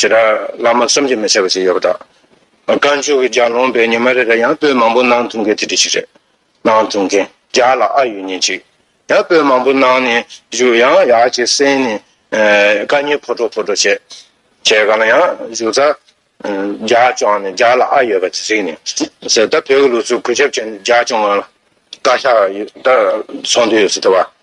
ཞེ་དྲག་བླ་མ་བསམ་གྱིས་མི་ཁྱབ་པ་ཞིག་ཡོད་པ་དང། བཀའ་མཆོག་གི་ལྗགས་ལོངས་པའི་ཉི་མ་རེ་རེར་ཡང་པོད་མང་པོ་གནང་ཐུབ་མཁན་དེ་འདི་ཞིག་རེད། གནང་ཐུབ་མཁན་བརྒྱ་ལ་ཨ་ཡོད་ཉིན་ཅིག་ཡང་པོད་མང་པོ་གནང་ནས་བཞུགས་ཡང་ཡག་ཅིག་གསན་ནས་བཀའ་རྙིང་ཕོ་སྒྲོག་ཕོ་སྒྲོག་བྱས། བྱས་ག་ལ་ཡང་བཞུགས་ཚར། བརྒྱ་བཅོངས་ནས་བརྒྱ་ལ་ཨ་ཡོད་པ་དེ་གཟིགས་ནས་ཟེར་ད་བོད་ཀྱི་ལུགས་སྲོལ་གུས་ཞབས་བྱས་ནས་བརྒྱ་བཅོངས་ན་བཀའ་ཤག་ད་ཚོགས་འདུ་ཡོད་ཚོད་ད་བ།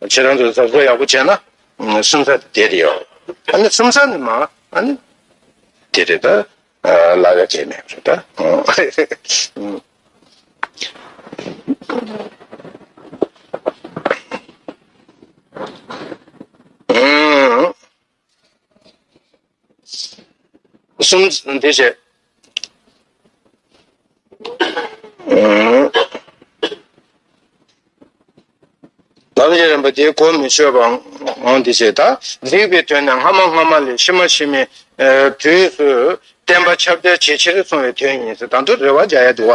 ཁྱེད་རང་ཚོས་གཟབ་གཟབ་ཡག་པོ་བྱས་ན་སུམ་ཚ་དེ་རེད་ཡོད་ཨ་ནི་སུམ་ཚ་ནི་མ་ཨ་ནི་དེ་རེད་ད་ལ་ཡ་ཁྱེད་མེད་རེད་ད་ཨ་གསུམ་དེ་བྱས། ལམ་རྒྱས་རིམ་པ་དེ་གོ་མི་ཆོད་པའང་དེ་བྱས། ད་གཟིགས་པའི་དོན་ནི་སྔ་མ་སྔ་མ་ལས་ཕྱི་མ་ཕྱི་མའི་དུས་སུ་བསྟན་པ་ཁྱབ་བརྡལ་ཇེ་ཆེར་སོང་བའི་དོན་ཡིན། དང་དུ་རེ་བ་བྱ་ཡ་དུ་བ་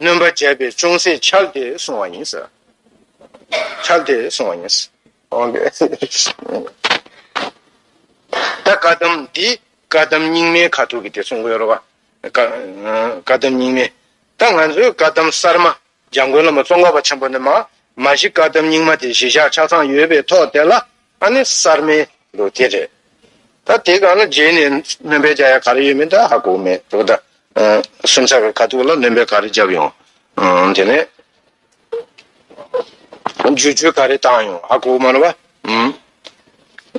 གནོན་པ་བྱས་པས་ཅུང་ཟད་ཆགས་ཏེ་སོང་བ་ཡིན། ཆགས་ཏེ་སོང་བ་ཡིན། ད་བཀའ་གདམས་འདི་བཀའ་གདམས་རྙིང་མའི་ཁ་ཐུག་གི་དེ་གསུང་གི་ཡོད་རོ། བཀའ་གདམས་རྙིང་མའི། ད་ང་ཚོའི་བཀའ་གདམས་གསར་མ་འཇམ་མགོན་བླ་མ་ཙོང་ཁ་པ་ཆེན་པོ་ནས་མ། མ་གཞི་བཀའ་གདམས་རྙིང་མ་དེ་གཞི་བཞག་ཆ་ཚང་ཡོད་པའི་ཐོག་དེ་ལ་ཨ་ནི་གསར་མའི་ལུགས་དེ་རེད་ད། དེ་ག་ལ་རྗེས་ནས་སྣོན་པའི་བྱ་ཡ་ག་རེ་ཡོད་མེད་ད་ཧ་གོ་མེད་འདུག་ད། སུམ་ཚ་གི་ཁ་ཐུག་ལ་སྣོན་པའི་ག་རེ་བརྒྱབ་ཡོང། དེ་ནས་བརྗོད་བྱུས་ག་རེ་བཏང་ཡོང་ཧ་གོ་མ་རུང་བ།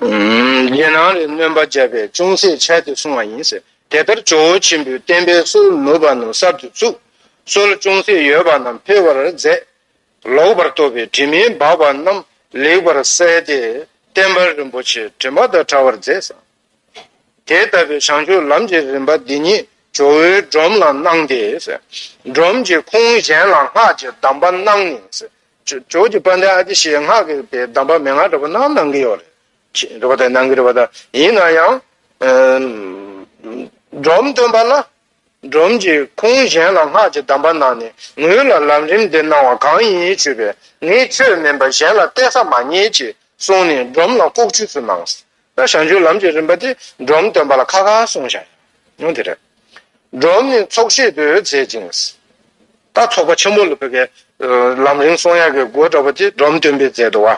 རྗེས་གནང་རེ་སྣོན་པ་བརྒྱབ་པས་ཅུང་ཟད་ཆད་དེ་སོང་བ་ཡིན། དེ་ལྟར་ཇོ་བོ་ཆེན་པོའི་བསྟན་པའི་སྲོལ་ནུབ་པ་རྣམས་གསར་དུ་བཙུགས། སྲོལ་ཅུང་ཟད་ཡོད་པ་རྣམས་འཕེལ་བར་མཛད། ལོག་པར་རྟོག་པའི་དྲི་མས་སྦགས་པ་རྣམས་ལེགས་པར་བསལ་ཏེ་བསྟན་པ་རིན་པོ་ཆེའི་དྲི་མ་དག་བྲ་བར་མཛད་ཟིན། དེ་ལྟ་བུའི་བྱང་ཆུབ་ལམ་གྱི་རིམ་པ་འདི་ཉིད་ཇོ་བོའི་སྒྲོམ་ལ་སྣང་སྟེ། སྒྲོམ་གྱི་ཁུངས་གཞན་ལ་སྔགས་ཀྱི་གདམས་པ་སྣང་ནས། ཇོ་བོ་དཔལ་ལྡན་ཨ་ཏི་ཤའི་སྔགས་ཀྱི་དེ་གདམས་པ་མན་ངག་འགྲེལ་པ་རྣམས་ནང་གི་ཡོད་རེད། ཡིན་ན་ཡང། སྒྲོམ་སྟོན་པ་ལ་སྒྲོམ་གྱི་ཁུང་གཞན་ལ་སྔགས་ཀྱི་གདམས་པ་གནང་ནས་ངུས་ལ་ལམ་རིམ་འདི་གནང་བ་གང་ཡིན་དྲིས་པས་ངས་ཁྱོད་མིན་པར་གཞན་ལ་གཏད་ས་མ་རྙེད་ཅེས་གསུངས་ནས་སྒྲོམ་ལ་ལྐོག་ཆུས་སུ་གནང། ས་ཞང་རྒྱུད་ལམ་གྱི་རིམ་པ་དེ་སྒྲོམ་སྟོན་པ་ལ་ཁ་ཁ་གསུངས་ཤིང། ཡང་དེ་རེད། སྒྲོམ་ནི་ཚོགས་ཤེས་དུས་མཛད་ཅིང། ད་ཚོགས་པ་ཆེན་པོ་ལ་ཕེབས་པའི་ལམ་རིམ་གསུང་ཡ་གི་སྒོ་གྲགས་པ་དེ་སྒྲོམ་སྟོན་པས་མཛད་དོ།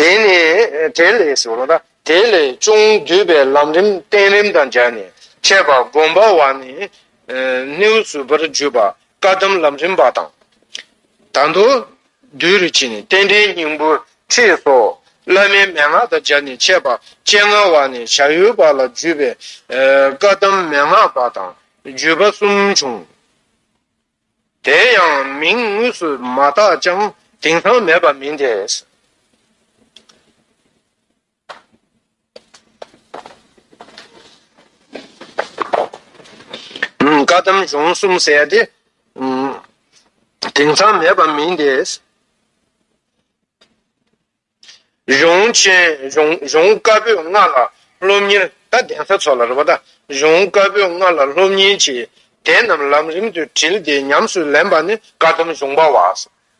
དེ་ནས་དེ་ལས་སོ་ལ། དེ་ལས་ཅུང་བསྡུས་པའི་ལམ་རིམ་བསྟན་རིམ་དང་སྦྱར་ནས་འཆད་པ་སྒོམ་པ་བ་ནི་སྣེའུ་བཟུད་པར་བརྗོད་པ་བཀའ་གདམས་ལམ་རིམ་པ་དང། ད་མདོ། བདུད་རི་བྱིན་རྟེན་འབྲེལ་སྙིང་པོ་ཁྲིད་སོགས་བླ་མའི་མན་ངག་དང་སྦྱར་ནས་འཆད་པ་སྤྱན་སྔ་བ་ནི་བྱ་ཡུལ་པ་ལ་བརྒྱུད་པའི་བཀའ་གདམས་མན་ངག་པ་དང་བརྒྱུད་པ་གསུམ་བྱུང། དེ་ཡང་མིང་དངོས་སུ་མ་བཏགས་ཀྱང་དེང་སང་མེད་པ་མིན་ཏེ། བཀའ་གདམས་གཞུང་གསུམ་གསལ་ཏེ། དེང་སང་མེད་པ་མིན་ཏེ། གཞུང་ཆེན་གཞུང་བཀའ་པོད་ལྔ་ལ་སློབ་གཉེར་ད་གདན་ས་ཚོགས་ལ་རོལ་པ་དང་གཞུང་བཀའ་པོད་ལྔ་ལ་སློབ་གཉེར་གྱི་དེ་རྣམས་ལམ་རིམ་དུ་དྲིལ་ཏེ་ཉམས་སུ་ལེན་པ་ནི་བཀའ་སྡོམ་གཞུང་པ་བ་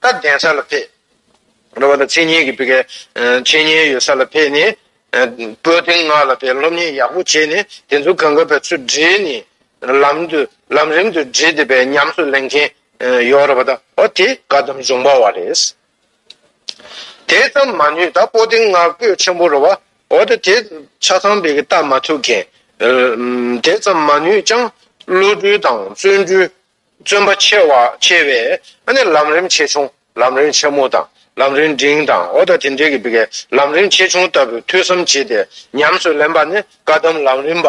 ད་གདན་ས་ལ་ཕེབས། རོལ་པ་དང་འཆད་ཉན་གྱི་བི་གའི་འཆད་ཉན་ཡོད་ས་ལ་ཕེབས་ནས་པོད་ཐེངས་ལྔ་ལ་ཕེབས་སློབ་གཉེར་ཡག་པོ་བྱས་ནས་དེ་ཚོ་གང་ག་བའི་ཚུལ་བསྒྲིལ་ནས་ལམ་རིམ་དུ་དྲིལ་ཏེ་བའི་ཉམས་སུ་ལེན་མཁན་ཡོད་རོལ་པ་དང་བ་དེ་བཀའ་སྡོམ་གཞུང་པ་བ་རེད། དེ་ཙམ་མ་ནུས་ད་པོ་ཏིང་ནག་པོས་ཆེན་པོ་རོ་བ་འོ་ད་དེ་ཆ་ཚང་བི་གི་བལྟ་མ་ཐུབ་མཁན། དེ་ཙམ་མ་ནུས་ཀྱང་བློ་གྲོས་དང་བརྩོན་འགྲུས་བརྩོན་པ་ཆེ་བ་ཆེ་བས་ཨ་ནི་ལམ་རིམ་ཆེ་ཆུང་ལམ་རིམ་ཆེན་མོ་དང་ལམ་རིམ་འབྲིང་དང་འོ་ད་དེ་འདྲའི་གི་བི་གའི་ལམ་རིམ་ཆེ་ཆུང་ལྟ་བུའི་ཐོས་བསམ་བྱེད་དེ་ཉམས་སུ་ལེན་པ་ནི་བཀའ་གདམས་ལམ་རིམ་པ།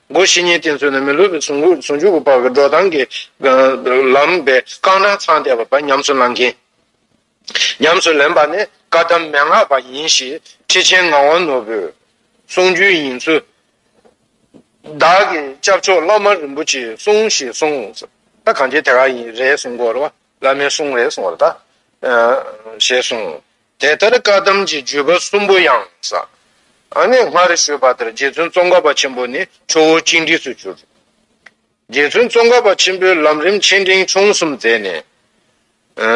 སྒོ་བཞི་གཉིས་བསྟན་ཚུལ་ནི་མི་ལུས་པའི་ཟུང་འཇུག་གི་སྤགས་པའི་འགྲོ་སྟངས་ཀྱི་ལམ་པས་རྐང་སྣ་ཚང་བལྟས་པ་པ་ཉམས་སུ་བླང་གིན། ཉམས་སུ་ལེན་པ་ནི་བཀའ་གདམས་མན་ངག་པ་ཡིན་ཞེས་ཁྲི་ཆེན་ངག་དབང་ནོར་བུས་གསུངས་རྒྱུན་ཡིན་ཚུལ། བདག་གི་སྐྱབས་མཆོག་བླ་མ་རིན་པོ་ཆེའི་གསུང་ཞེས་གསུངས། ད་གང་ཆེ་དེ་ག་ཡིན་རེད་གསུངས་སྐོར་བ་བླ་མའི་གསུང་རེད་གསུངས་བ་ལ་ད། ཞེས་གསུངས། དེ་ལྟར་བཀའ་གདམས་ཀྱི་བརྒྱུད་པ་གསུམ་པོ་ཡང་ཟབ། ཨ་ནེ་སྔར་ཞུས་པ་ལྟར་རྗེ་བཙུན་ཙོང་ཁ་པ་ཆེན་པོ་ནི་ཁྲོ་བོ་གཅིག་འདྲིས་སུ་གྱུར། རྗེ་བཙུན་ཙོང་ཁ་པ་ཆེན་པོས་ལམ་རིམ་ཆེ་འབྲིང་ཆུང་གསུམ་མཛད་ནས།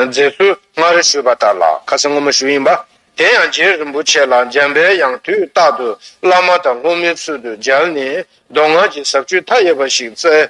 མཛད་ཚུལ་སྔར་ཞུས་པ་ལྟར་ལ་ཁ་སེང་སྔོན་མོ་ཞུ་ཡིན་པ། དེ་ཡང་རྗེ་རིན་པོ་ཆེ་ལ་འཇམ་པའི་དབྱངས་དུས་རྟག་ཏུ་བླ་མ་དང་སློབ་མའི་ཚུལ་དུ་མཇལ་ནས་མདོ་སྔགས་ཀྱི་ཟབ་ཆོས་མཐའ་ཡས་པ་ཞིག་བསྩལ།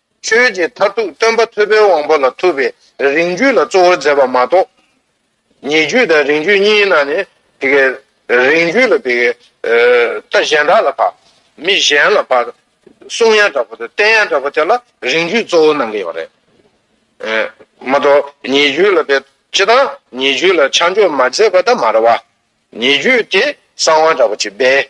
ཆོས་ཀྱི་མཐར་ཐུག་སྟོན་པ་ཐོད་པའི་དབང་པོ་ལ་ཐུག་པའི་རིང་བརྒྱུད་ལ་གཙོ་བོར་མཛད་པ་མ་གཏོགས། ཉེ་བརྒྱུད་དང་རིང་བརྒྱུད་གཉིས་ནང་ནས་དེ་གའི་རིང་བརྒྱུད་ལ་དེ་གའི་ལྟ་གཞན་དག་ལ་བར། མི་གཞན་ལ་བར། གསུང་ཡང་དྲག་པོ་དང་བསྟན་ཡང་དྲག་པོ་དེ་ལ་རིང་བརྒྱུད་གཙོ་བོ་གནང་གི་ཡོད་རེད། མ་གཏོགས་ཉེ་བརྒྱུད་ལ་དེ་སྤྱི་དང་ཉེ་བརྒྱུད་ལ་ཆ་འཇོག་མ་མཛད་པ་དང་མ་རེད་བ། ཉེ་བརྒྱུད་དེ་གསང་བ་དྲག་པོ་ཆེ་སྦས།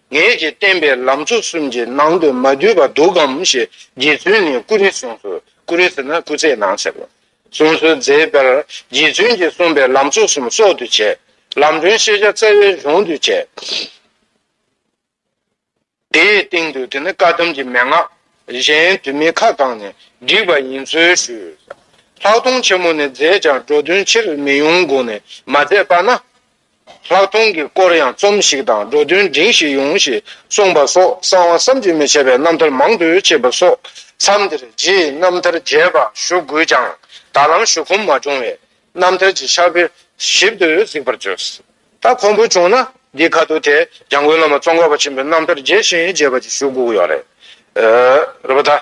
ངེད་ཀྱིས་བསྟན་པའི་ལམ་མཆོག་གསུམ་གྱི་ནང་དུ་མ་འདུས་པ་འདུག་གམ་ཞེས་རྗེ་བཙུན་ནས་ཀུ་རེ་ཟུང་སོ། ཀུ་རེ་ཟེར་ན་སྐུ་ཚེའི་ནང་ཟེར་བ། གསུངས་སོ། མཛད་པར་རྗེ་བཙུན་གྱིས་གསུངས་པའི་ལམ་མཆོག་གསུམ་སྲོག་ཏུ་བྱས། ལམ་སྒྲོན་ཤེས་བྱ་རྩ་བའི་གཞུང་དུ་བྱས། དེའི་སྟེང་དུ་དེ་ནི་བཀའ་གདམས་ཀྱི་མན་ངག། གཞན་དུ་མི་ཁ་བསྐངས་ནས་བསྒྲིགས་པ་ཡིན་ཚུལ་ཞུས། ལྷག་མཐོང་ཆེན་མོ་ནས་མཛད་ཀྱང་འགྲོ་དོན་ཕྱིར་མི་ཡོང་དགོངས་ནས་མ་མཛད་པ་ན། ལྷག་མཐོང་གི་སྐོར་ཡང་རྩོམ་ཞིག་དང་འགྲོ་དོན་འབྲིང་ཞིག་ཡོང་ཞེས་གསུངས་པ་སོགས་གསང་བ་བསམ་གྱིས་མི་ཁྱབ་པའི་རྣམ་ཐར་མང་དུ་མཆིས་པ་སོགས་མཚམས་འདིར་རྗེའི་རྣམ་ཐར་རྒྱས་པ་ཞུ་དགོས་ཀྱང་ད་ལམ་ཞུ་ཁོམ་མ་བྱུང་བས་རྣམ་ཐར་གྱི་ཕྱག་དཔེ་ཞིབ་ཏུ་གཟིགས་པར་བྱོས། ད་ཁོམ་པོ་བྱུང་ན་འདིའི་ཁ་ཐུག་དེ་འཇང་དགུན་བླ་མ་ཙོང་ཁ་བ་ཆེན་པོའི་རྣམ་ཐར་རྒྱས་ཤིང་རྒྱས་པ་ཅིག་ཞུ་དགོས་ཀྱི་ཡོད་རེད།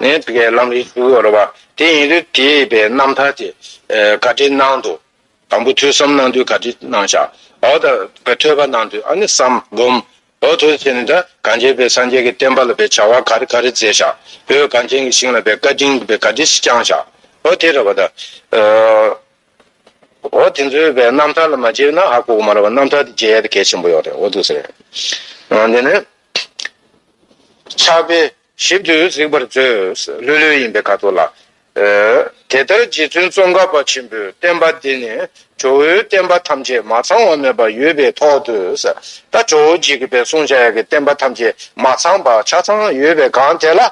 ནས་དགེ་སློང་གིས་བསྒྱུར་བར་བ་དེ་ཡིན་རིགས་བྲིས་པའི་རྣམ་ཐར་གྱི་བཀའ་དྲིན་གནང་དུ། དང་པོ་ཐོས་བསམ་གནང་དུས་བཀའ་དྲིན་གནང་བྱ། འོག་ཏུ་ཐོས་པ་གནང་དུས་ཨ་ནི་བསམ་བསྒོམ། འོག་ཐོས་བྱས་ནས་ད་གང་བྱས་པའི་སངས་རྒྱས་ཀྱི་བསྟན་པ་ལ་པའི་བྱ་བ་ག་རེ་ག་རེ་མཛད་བྱ། བོད་གངས་ཅན་གྱི་ཞིང་ལ་པའི་བཀའ་དྲིན་གྱི་བཀའ་དྲིན་བསྐྱང་བྱ། འོག་དེ་ར་བ་ད། འོག་དེ་ཚོའི་བའི་རྣམ་ཐར་ལ་མ་མཇལ་བས་ན་ཨ་ཀོ་མ་ར་བ་རྣམ་ཐར་དེ་མཇལ་ཡ་དེ་གལ་ཆེན་པོ་ཡོད་རེད་འོ་དུས་ཟེར། འོ་དེ་ནས། ཆགས་པའི། ཞིབ་ཏུ་གཟིགས་པར་མཛོད། ལྷོད་ལྷོད་ཡིན་པའི་ཁ་དོག་ལ། དེ་ལྟར་རྗེ་བཙུན་ཙོང་ཁ་པ་ཆེན་པོའི་བསྟན་པ་འདི་ནི་ཇོ་བོའི་བསྟན་པ་ཐམས་ཅད་མ་ཚང་བ་མེད་པ་ཡོད་པའི་ཐོག་ཏུ། ད་ཇོ་བོ་རྗེ་ཁི་པའི་གསུང་བྱ་ཡག་གི་བསྟན་པ་ཐམས་ཅད་མ་ཚང་པ་ཆ་ཚང་ཡོད་པའི་སྒང་དེ་ལ།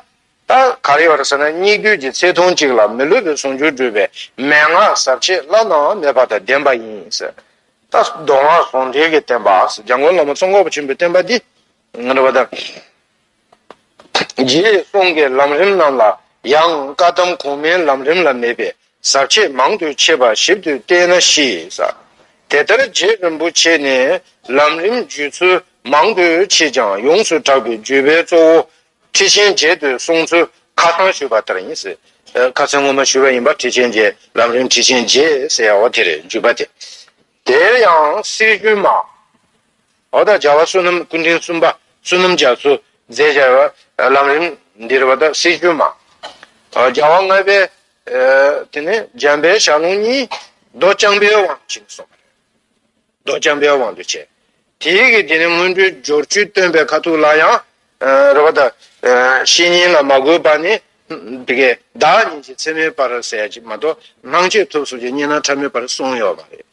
ད་ག་རེ་བར་ཟེར་ན་སྙིགས་དུས་ཀྱི་ཚེ་ཐུང་གཅིག་ལ་མི་ལུས་པའི་ཟུང་འཇུག་སྒྲུབ་པའི་མན་ངག་ཟབ་ཆེ་བླ་ན་མེད་པ་དང་ལྡན་པ་ཡིན། ད་མདོ་སྔགས་ཟུང་འབྲེལ་གྱི་བསྟན་པ་འཇམ་མགོན་བླ་མ་ཙོང་ཁ་པ་ཆེན་པོའི་བསྟན་པ་འདི། རྗེས་སོང་གི་ལམ་རིམ་རྣམས་ལ་ཡང་བཀའ་གདམས་གོང་མའི་ལམ་རིམ་ལ་མེད་པའི་ཟབ་ཆོས་མང་དུ་མཆིས་པ་ཞིབ་ཏུ་བལྟས་ན་ཤེས། དེ་ལྟར་རྗེ་རིན་པོ་ཆེ་ནས་ལམ་རིམ་བརྒྱུད་ཚུལ་མང་དུ་མཆིས་ཀྱང་ཡོངས་སུ་གྲགས་པའི་བརྒྱུད་པའི་གཙོ་བོ་ཁྲི་ཆེན་རྗེ་འདོད་གསུང་ཚུལ་ཁ་སང་ཞུས་པ་ལྟར་ཡིན། ཁ་སང་སྔོན་མ་ཞུས་པ་ཡིན་པ་ཁྲི་ཆེན་རྗེ་ལམ་རིམ་ཁྲི་ཆེན་རྗེ་ཟེར་ཡ་བ་དེར་བརྒྱུད་པ་དེ་དེར་ཡང་སྲིད་རྒྱུན་མ། འོག་དང་སྦྱར་བ་བསོད་ནམས་ཀུན་འབྲིང་གསུམ་པ་བསོད་ནམས་རྒྱ་མཚོ་རྫས་སྦྱར་བ། ལམ་རིམ་འདིར་བ་དང་སྲིད་བྱུས་མ། སྦྱར་བ་ལྔ་པའི། དེ་ནས་འཇམ་དཔལ་ཞག་ལོངས་གཉིས། མདོ་རྐྱང་པའི་དབང་དུ་བྱས་ནས་སོགས་པ་རེད། མདོ་རྐྱང་པའི་དབང་དུ་བྱས། དེ་ཡི་གེ་དེ་ནི་སྔོན་འགྲོའི་སྦྱོར་བཅུའི་སྟོན་པའི་ཁ་ཐུག་ལ་ཡང། རེ་བ་དང། བཤེས་གཉེན་ལ་མ་དགོས་པ་ནི། དེ་ཀའི་བདག་ཉིད་ཀྱི་ཚད་མའི་བར་ཟད་ཅིག་མ་གཏོགས་སྣང་མཆེད་ཐོབ་གསུངས་ཀྱི་བསྙེན་སྣང་ཕྲ་མོའི་བར་གསུངས་ཡོད་པ་རེད།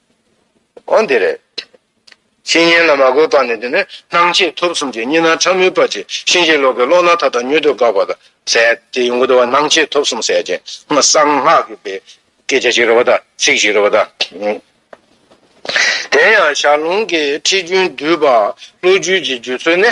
གོ། འདིར། བཤེས་གཉེན་ལ་མ་བཀོད་པ་ནི་འདི་ནི་སྣང་མཆེད་ཐོབ་གསུམ་གྱི་གཉིས་སྣང་ཕྲ་མོའི་བར་གྱི་གཤིན་རྗེའི་གློག་གི་གློག་སྣང་མཐའ་དག་མྱུར་དུ་འགགས་པ་དང་ཟད་དེ་ཡོངས་གྲོལ་བ་སྣང་མཆེད་ཐོབ་གསུམ་ཟད་ཅིང་སངས་སྔགས་ཀྱི་བའི་སྐད་ཆ་ཞིག་རོལ་བ་དང་ཚིག་ཞིག་རོལ་བ་དང། དེ་ཡང་ཞར་ལུང་གི་ཁྲིད་རྒྱུན་བསྡུས་པ་བློ་རྒྱུད་ཀྱི་བརྒྱུད་ཚུལ་ནི།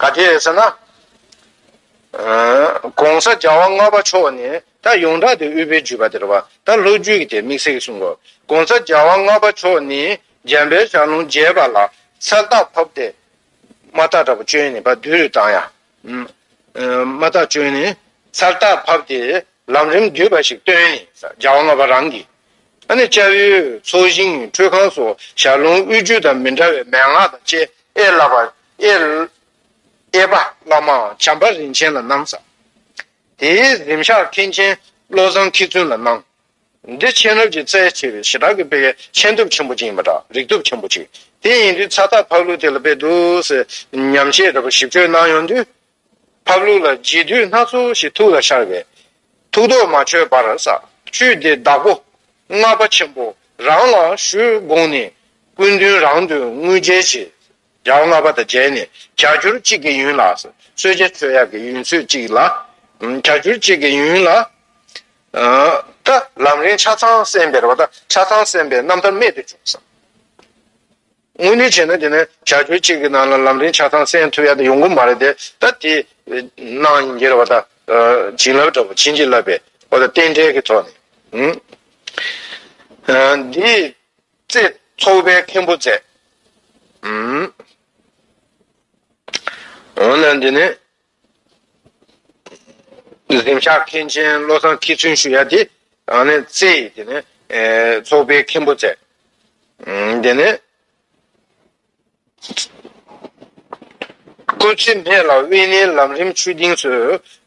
ག་དེ་ཟེར་ན། ྋགོང་ས ྋརྒྱལ་བ་ལྔ་པ་མཆོག་ནི་ད་ཡོངས་གྲགས་དེ་དབུས་པའི་བརྒྱུད་པ་དེར་བ་ད་ལྷོ་བརྒྱུད་ཀྱི་དེ་དམིགས་བསལ་གྱི་གསུང་ངོ། ྋགོང་ས ྋརྒྱལ་བ་ལྔ་པ་མཆོག་ནི་འཇམ་པའི་ཞག་ལུང་རྒྱས་པ་ལ་ས་བདག་ཕབ་སྟེ། མ་བདག་དྲག་པོ་བཅོལ་ནས་བ་བདུད་རུ་བཏང་ཡང། མ་བདག་བཅོལ་ནས་ས་བདག་ཕབ་སྟེ་ལམ་རིམ་བསྡུས་པ་ཞིག་བཏོན་ནས ྋརྒྱལ་བ་ལྔ་པ་རང་གིས། ཨ་ནི་ལྕགས་ཡོས་ཚོགས་ཞིང་ཁྲུས་ཁང་སོགས་ཞག་ལུང་དབུས་བརྒྱུད་དང་མི་འདྲ་བའི་མན་ངག་དང་བཅས་ཨེ་བསླབ་པ། དབྱེ། དབྱེ་པ་བླ་མའང་བྱམས་པ་རིན་ཆེན་ལ་གནང་བསམ། དེའི་གཟིམ་ཤག་མཁན་ཆེན་བློ་བཟང་མཁས་བཙུན་ལ་གནང། འདི་མཁྱེན་རབ་ཀྱི་རྩལ་ཆེ་བའི་ཞི་དྲག་གི་དཔེ་མཁྱེན་སྟོབས་ཆེན་པོ་ཅིག་ཡིན་པ་འདྲ་རིག་སྟོབས་ཆེན་པོ་ཅིག་དེ་ཡིན་དུས་ཚ་ཐག་ཕག་ལུག་དེ་ལ་དཔེ་བསྡུ་སེམས་ཉམས་ཤེས་རབ་ཞིབ་དཔྱོད་གནང་ཡོང་དུས། ཕག་ལུག་ལ་བརྗིད་དུས་སྣ་ཚོགས་ཤིག་ཐུགས་ལ་ཤར་བས། ཐུགས་དོགས་མ་ཆོད་པར་ས་བཅུད་འདི་བདག་པོ་ལྔ་པ་ཆེན་པོ་རང་ལ་ཞུ་དགོངས་ནས་སྐུ་མདུན་རང་དུ་དངུལ་འཇལ་བྱེད་རྒྱང་བསླ་བ་དང་བྱས་ནས་གྱ་གྱུར་གཅིག་གི་ཡུན་ལ། སོས་ཆའི་ཚོད་ཡར་གྱི་ཡུན་ཚོད་གཅིག་ལ། གྱ་གྱུར་གཅིག་གི་ཡུན་ལ། ཀ། ལམ་རིང་ཆ་ཚང་གསན་པའི་རོ། ཆ་ཚང་གསན་པའི་རྣམ་ཐར་རྨད་དུ་བྱུང་ས། དངོས་ནས་བྱས་ན་དེ་ནི་གྱ་གྱུར་གཅིག་གི་ནང་ལ་ལམ་རིང་ཆ་ཚང་གསན་ཐུབ་ཡ་དེ་ཡོང་གི་མ་རེད་དེ། ད་དེ། སྣང་ཡིན་གྱིར་བ་ད། བྱིན་རླབས་འདྲ་བོ་བྱིན་གྱིས་བརླབས་པའི། བ་ད་རྟེན་འབྲེལ་གྱི་ཐོག་ནས། འདིའི། རྩེ། ཚོགས་པའི་མཁན་པོ་མཛད། འོ་ན་འདི་ནི། གཟིམ་ཤག་མཁན་ཆེན་བློ་བཟང་ཁྱེད་ཚུན་ཞུ་ཡ་དེ། ཨ་ནི་རྩེ། འདི་ནི་ཚོགས་པའི་མཁན་པོ་མཛད། འདི་ནི། སྐུ་ཚེ་སྨད་ལ་དབེན་གནས་ལམ་རིམ་ཆོས་སྡིངས་སུ་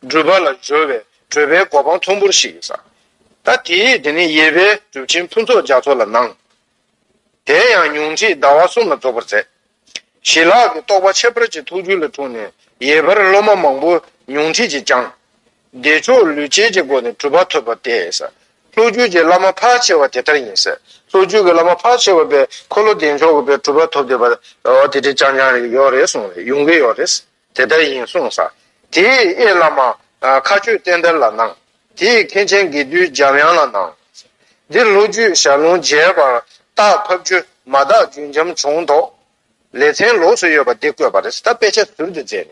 སྒྲུབ་པ་ལ་སྦྱོར་བའི་བགྲོད་པའི་གོ་འཕང་མཐོན་པོར་ཞིག་བསགས། ད་དེའི་དེ་ནས་ཡེར་པའི་གྲུབ་ཆེན་ཕུན་ཚོགས་རྒྱ་མཚོ་ལ་གནང། དེ་ཡང་ཉུང་འཕྲི་ཟླ་བ་གསུམ་ལ་རྫོགས་པར་མཛད། ཞི་ལྷག་གི་རྟོགས་པ་ཁྱད་པར་ཅན་ཐུགས་རྒྱུད་ལ་འཁྲུངས་ནས་ཡེར་པར་སློབ་མ་མང་པོ་ཉུང་འཕྲི་བྱས་ཀྱང། བདེ་མཆོག་ལུས་ཅན་གྱི་སྒོ་ནས་གྲུབ་པ་ཐོབ་པ་སྟེ། ལྷོ་རྒྱུད་ཀྱི་བླ་མ་ཕར་ཆེ་བ་དེ་ལྟར་ཡིན། ལྷོ་རྒྱུད་ཀྱི་བླ་མ་ཕར་ཆེ་བ་པའི་འཁོར་ལོ་བདེ་མཆོག་གི་བའི་གྲུབ་པ་ཐོབ་འདོད་པ། དེ་དེ་རྐྱང་རྐྱང་རེད་ཡོད་རེད་གསུངས་རེད་ཡོང་གི་ཡོད་རེད། དེ་ལྟར་ཡིན་གསུངས་སར། དེས་དབྱེ་བླ་མ། མཁའ་སྤྱོད་བསྟན་དར་ལ་གནང། དེས་མཁན་ཆེན་དགེ་འདུན་འཇམ་དབྱངས་ལ་གནང། འདིར་ལྷོ་རྒྱུད་ཞར་ལུང་རྒྱས་པར་རྟགས་ཕབ་རྒྱུ་མ་དག་རྒྱུན་འབྱམས་བྱུང་དོགས། ལེ་ཚན་ལོགས་སུ་ཡོད་པ་འདི་བཀོད་པ་རེད་ད་དཔེ་ཆ་ཟུར་དུ་མཛད་ནས་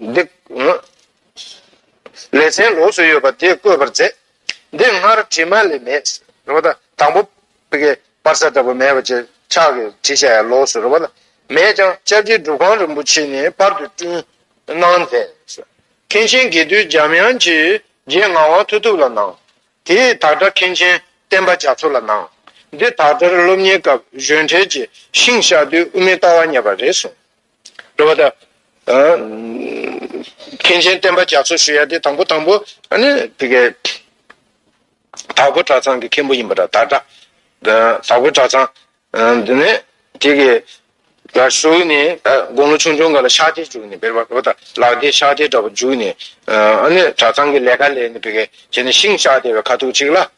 འདི། ལེ་ཚན་ལོགས་སུ་ཡོད་པ་དེ་བཀོད་པར་མཛད། འདི་སྔར་བྲིས་མ་ལས་མེད། རེ་བ་ད། དང་པོ། པི་ཀའི་པར་ས་ལྟ་བུ་མེད་པ་ཅིག་ཆགས་ཀྱི་བྲིས་ཆ་ཡང་ལོགས་སུ་རེ་བ་ལ། མེད་ཀྱང་ལྕགས་ཀྱི་སྒྲུབ་ཁང་རིན་པོ་ཆེ་ནས་པར་དུ་བསྐྲུན། གནང་མཛད། མཁན་ཆེན་དགེ་འདུན་འཇམ་དབྱངས་ཀྱིས་རྗེ་ངག་དབང་མཐུ་སྟོབས་ལ་གནང། དེས་དག་སྒྲ་མཁན་ཆེན་བསྟན་པ་རྒྱ་མཚོ་ལ་གནང། འདི་དག་སྒྲར་སློབ་གཉེར་སྐབས་གཞོན་གྲལ་གྱི་ཤིང་བཤགས་དུས་དབུ་མའི་ལྟ་བ་རྙེད་པ་རེད་གསུངས། འགྲོ་བ་དང། མཁན་ཆེན་བསྟན་པ་རྒྱ་མཚོ་ཞུ་ཡ་དེ་དང་པོ་དང་པོ་ནི་དེ་གའི། དྭགས་པོ་གྲྭ་ཚང་གི་མཁན་པོ་ཡིན་པ་དང་དྭགས་གྲྭ། དྭགས་པོ་གྲྭ་ཚང། དེ་ནས་དེ་གའི། བཞུགས་ནས་དགུང་ལོ་ཆུང་ཆུང་ག་ལ་ཤག་ཐེ་བཅུག་ནས་བེར་བ་འགྲོ་བ་དང་ལག་ཐེ་ཤག་ཐེ་འདྲ་པོ་འཇུག་ནས། གྲྭ་ཚང་གི་ལས་ཀ་ལས་ནས་བེར་གས་བྱས་ནས་ཤིང་ཤག་ཐེ་བའི་ཁ་ཐུག་ཅིག་ལ།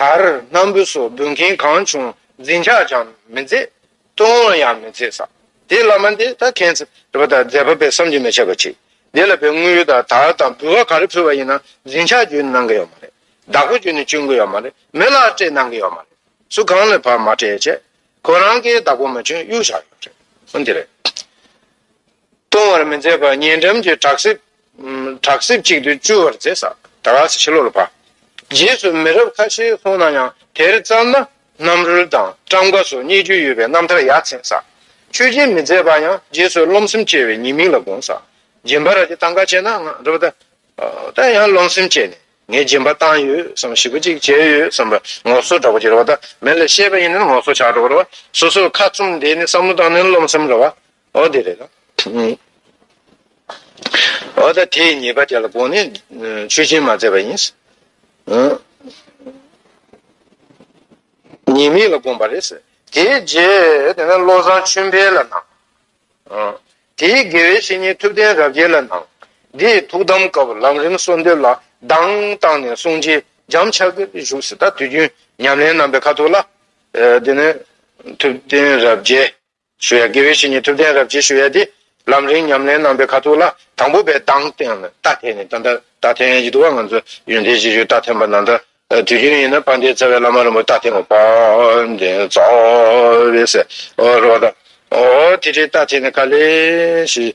དར་སྣམ་བུ་སོགས་འབུལ་མཁན་གང་བྱུང་འཛིན་ཆགས་ཀྱང་མི་མཛད། བསྟོད་དབང་ཡང་མི་མཛད། དེ་བླ་མ་འདི་ད་ཁྱེད་ཚོས་དེ་བ་ད་མཛད་པ་པས་བསམ་གྱིས་མི་ཁྱབ་པ་གྱིས། འདི་ལ་པའི་དངུལ་ཡོད་ད་དར་དང་འབུལ་བ་ག་རེ་ཕུལ་བ་ཡིན་ན་འཛིན་ཆགས་རྒྱུན་གནང་གི་ཡོད་མ་རེད། བདག་པོ་རྒྱུན་བཅུག་གི་ཡོད་མ་རེད་མི་ལ་སྤྲད་གནང་གི་ཡོད་མ་རེད། སུ་གང་ལ་བར་མ་སྤྲད་ཅེས། ཁོ་རང་གིས་བདག་པོ་མ་བྱོན་གཡུག་བཞག་ཡོད་རེད། འདི་རེད། གཏོང་བར་མི་མཛད་པར་ཉེ་འགྲམ་གྱི་བྲག་གསེབ། བྲག་གསེབ་ཅིག་ཏུ་བཅུ་བར་མཛད། ད་ག་ཚི་ཕྱི་ལོག་ལ་བབས། རྗེས་སུ་མི་རབས་ཁ་ཤས་སོང་ན་ཡང་དེར་བརྩམས་ན་རྣམ་རོལ་དང་བཀྲམ་དགའ་སོགས་རྙེད་རྒྱུ་ཡོད་པའི་རྣམ་ཐར་ཡ་མཚན་བསགས། ཆོས་སྦྱིན་མི་མཛད་པ་ཡང་རྗེས་སུ་རློམ་སེམས་སྐྱེ་བའི་ཉེས་དམིགས་ལ་དགོངས། སྦྱིན་པ་ར་ཅི་ཐང་ག་བྱས་ན་ང་རོ་བདའ། ད་ཡང་རློམ་སེམས་སྐྱེས་ནས་ངས་སྦྱིན་པ་བཏང་ཡོད་བསམ་ཞིབ་པོ་ཅིག་བྱས་ཡོད་བསམ་པར་ངོ་སོ་དྲག་པོ་སྐྱེ་རོ་བདའ། མི་ལ་བཤད་པ་ཡིན་ན་ངོ་སོ་ཆག་འགྲོ་བ་རོ་བདའ། སོ་སོར་ཁ་བཙུམ་བསྡད་ནས་བསམ་བློ་བཏང་ན་རློམ་སེམས་རོ་བདའ། འོ་དེ་རེད། འོ་ད་དེའི་ཉེས་པ་དེ་ལ་དགོངས་ནས་ཆོས་སྦྱིན་མ་མཛད་པ་ཡིན། ཉེས་དམིགས་ལ་དགོངས་པ་རེད། དེའི་རྗེས་དེ་ནས་བློ་བཟང་ཆོས་འཕེལ་ལ་གནང། དེའི་དགེ་བའི་བཤེས་གཉེན་ཐུབ་བསྟན་རབ་རྒྱས་ལ་གནང། འདིས་ཐུགས་དམ་སྐབས་ལམ་རིམ་གསོལ་འདེབས་ལ་གདངས་བཏང་ནས་གསུང་རྗེས་འཇམ་ཕྱག་གིས་བཞུགས་སུ་ད་དུས་རྒྱུན་ཉམས་ལེན་རྣམ་པའི་ཁ་ཐུག་ལ། དེ་ནས་ཐུབ་བསྟན་རབ་རྒྱས། ཞུ་ཡ་དགེ་བའི་བཤེས་གཉེན་ཐུབ་བསྟན་རབ་རྒྱས་ཞུ་ཡ་དེ་ལམ་རིང་ཉམས་ལེན་གནང་པའི་ཁ་ཐུག་ལ་དང་པོ་པའི་དང་སྟེང་ནས་རྟ་འཐེན་ནས་ད་ལྟ་རྟ་འཐེན་ཡི་འདུག་བ་ང་ཚོ་ཡོན་ཏན་ཅན་ཞིག་རྟ་འཐེན་པ་ན་ད་དུས་རྒྱུན་ཡིན་ན་ཕ་མཐའི་རྩ་བའི་བླ་མ་རིན་པོ་རྟ་འཐེན་བ་བན་དེ་རྩ་བའི་ཟེར་བ་དང་འོ་དེ་འདྲའི་རྟ་འཐེན་ནས་ཁ་ལས་ཞིག་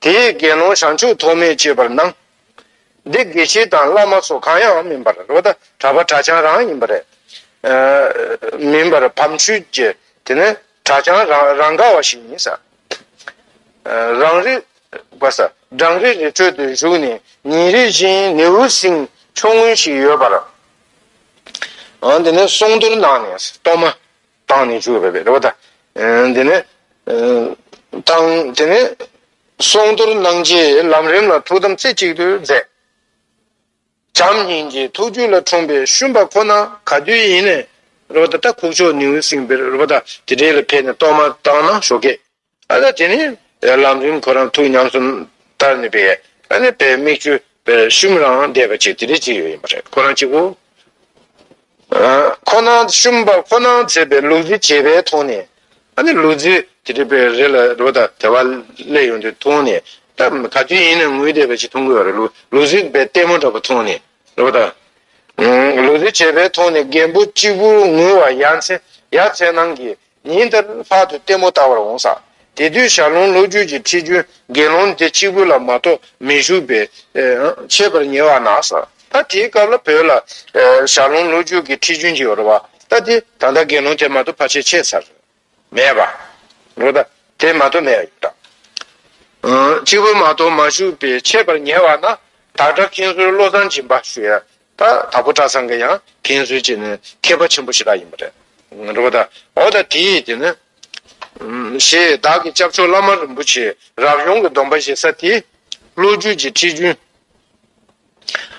དེས་དགེ་སློང་བྱང་ཆུབ་ཐོགས་མེད་སྤྱོད་པར་གནང། འདི་དགེ་བཤེས་དང་བླ་མ་སོགས་གང་ཡང་མིན་པར་རོ། གྲྭ་པ་གྲྭ་བྱང་རང་ཡིན་པ་རེད། མིན་པར་བམ་ཆུ་རྒྱས། དེ་ནི་གྲྭ་བྱང་རང་ག་བ་ཞིག་ཡིན། རང་རེ་སྦྲང་རི་རི་ཁྲོད་དུ་བཞུགས་ནས་ཉིན་རེ་བཞིན་ནེའུ་གསིང་ཕྱོགས་སྔུན་ཞིག་ཡོད་པར། དེ་ནས་གསུང་བསྡུར་གནང་ནས་གཏོར་མ་བཏང་ནས་བཅུག་པའི་རེ་བ་དང། དེ་ནས། བཏང། དེ་ནས། སྲུང་གཏོར་གནང་རྗེས་ལམ་རིམ་ལ་ཐུགས་དམ་རྩེ་གཅིག་ཏུ་མཛད། བྱམས་སྙིང་རྗེའི་ཐུགས་རྒྱུད་ལ་འཁྲུངས་པའི་ཤུན་པ་ཁོ་ན་ག་དུས་ཡིན། རེ་བ་དང། ཁུག་ཆོག་ནེའུ་གསིང་བེར་རེ་བ་དང་དེ་འབྲེལ་ལ་ཕེབས་ནས་གཏོར་མ་བཏང་ན་ཞོག་གེ། ཨ་ལ་དེ་ནི་ལམ་རིམ་ཁོ་རང་ཐུགས་ཉམས་སུ་བསྟར་ནུས་པའི་ཨ་ནི་བའི་མིག་ཆུ་ཤུམ་རང་བསྡད་པ་ཅིག་དེ་རིགས་ཅིག་ཡོད་ཡིན་པ་རེད་ཁོ་རང་གཅིག་པུ་ཁོ་ནང་ཤུམ་པ་ཁོ་ནང་བྱས་པའི་ལུག་རྫི་བྱེད་པའི་མཐོང་ནས་ཨ་ནི་ལུག་རྫི་དེ་རིགས་པའི་རེ་ལ་རོ་ད་དེ་བ་སླེ་ཡོང་དུས་མཐོང་ནས་ད་ག་དུས་ཡིན་ན་ངུས་བསྡད་པ་ཅིག་མཐོང་གི་ཡོད་རེད་ལུག་ལུག་རྫི་བའི་ལྟད་མོ་འདྲ་པོ་མཐོང་ནས་རོ་ད་ལུག་རྫི་བྱེད་པའི་མཐོང་ནས་རྒན་པོ་གཅིག་པུ་ངུས་བ་ཡ་མཚན་ཡ་མཚན་ནང་གི་ཉིན་དེར་ལྷག་ཏུ་ལྟད་མོ་ལྟ་བར་འོངས་ས་དེ་དུས་ཞར་ལུང་ལོ་རྒྱུས་ཀྱི་ཁྲིད་རྒྱུན་དགེ་སློང་དེ་གཅིག་པུ་ལ་མ་གཏོགས་མི་བཞུགས་པས། ཆད་པར་ཉེ་བ་ན་ས་ད་དེའི་སྐབས་ལ་བོད་ལ། ཞར་ལུང་ལོ་རྒྱུས་ཀྱི་ཁྲིད་རྒྱུན་གྱི་འོར་བ་ད་དེ་ད་ལྟ་དགེ་སློང་དེ་མ་གཏོགས་ཕ་ཆེ་ཆེ་ས་རེ་མེད་པ། རེད་ད་དེ་མ་གཏོགས་མེད་ཡོད་ད། གཅིག་པུ་མ་གཏོགས་མ་བཞུགས་པས་ཆད་པར་ཉེ་བ་ན། དག་སྒྲ་མཁན་ཟུར་བློ་བཟང་སྦྱིན་པ་ཞུ་ཡ་ད་ད་པོ་གྲྭ་ཚང་གི་ཡང་མཁན་ཟུར་གྱི་ནི་མཁས་པ་ཆེན་པོ་ཞིག་རག་ཡིན་པ་རེད། འགྲོ་བ་ད་འོ་ད་དེ་ཡིས་དེ་ནི། ཞེས་བདག་གི་སྐྱབས་མཆོག་བླ་མ་རིན་པོ་ཆེའི་རབ་བྱུང་གི་སྡོམ་པ་བཞེས་ས་དེ། ལོ་རྒྱུས་ཀྱི་ཁྲིད་རྒྱུན།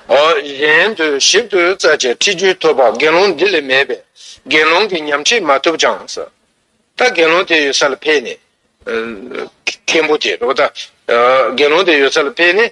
འོ་གཞན་དུ་ཞིབ་ཏུ་བཙལ་བྱས་ཁྲིད་རྒྱུན་ཐོབ་པ་དགེ་སློང་འདི་ལས་མེད་པས་དགེ་སློང་གི་ཉམས་ཁྲིད་མ་ཐུབ་ཀྱང། ད་དགེ་སློང་དེ་ཡོད་ས་ལ་ཕེབས་ནས། མཁན་པོ་དེ་འགྲོ་བ་ད་དགེ་སློང་དེ་ཡོད་ས་ལ་ཕེབས་ནས།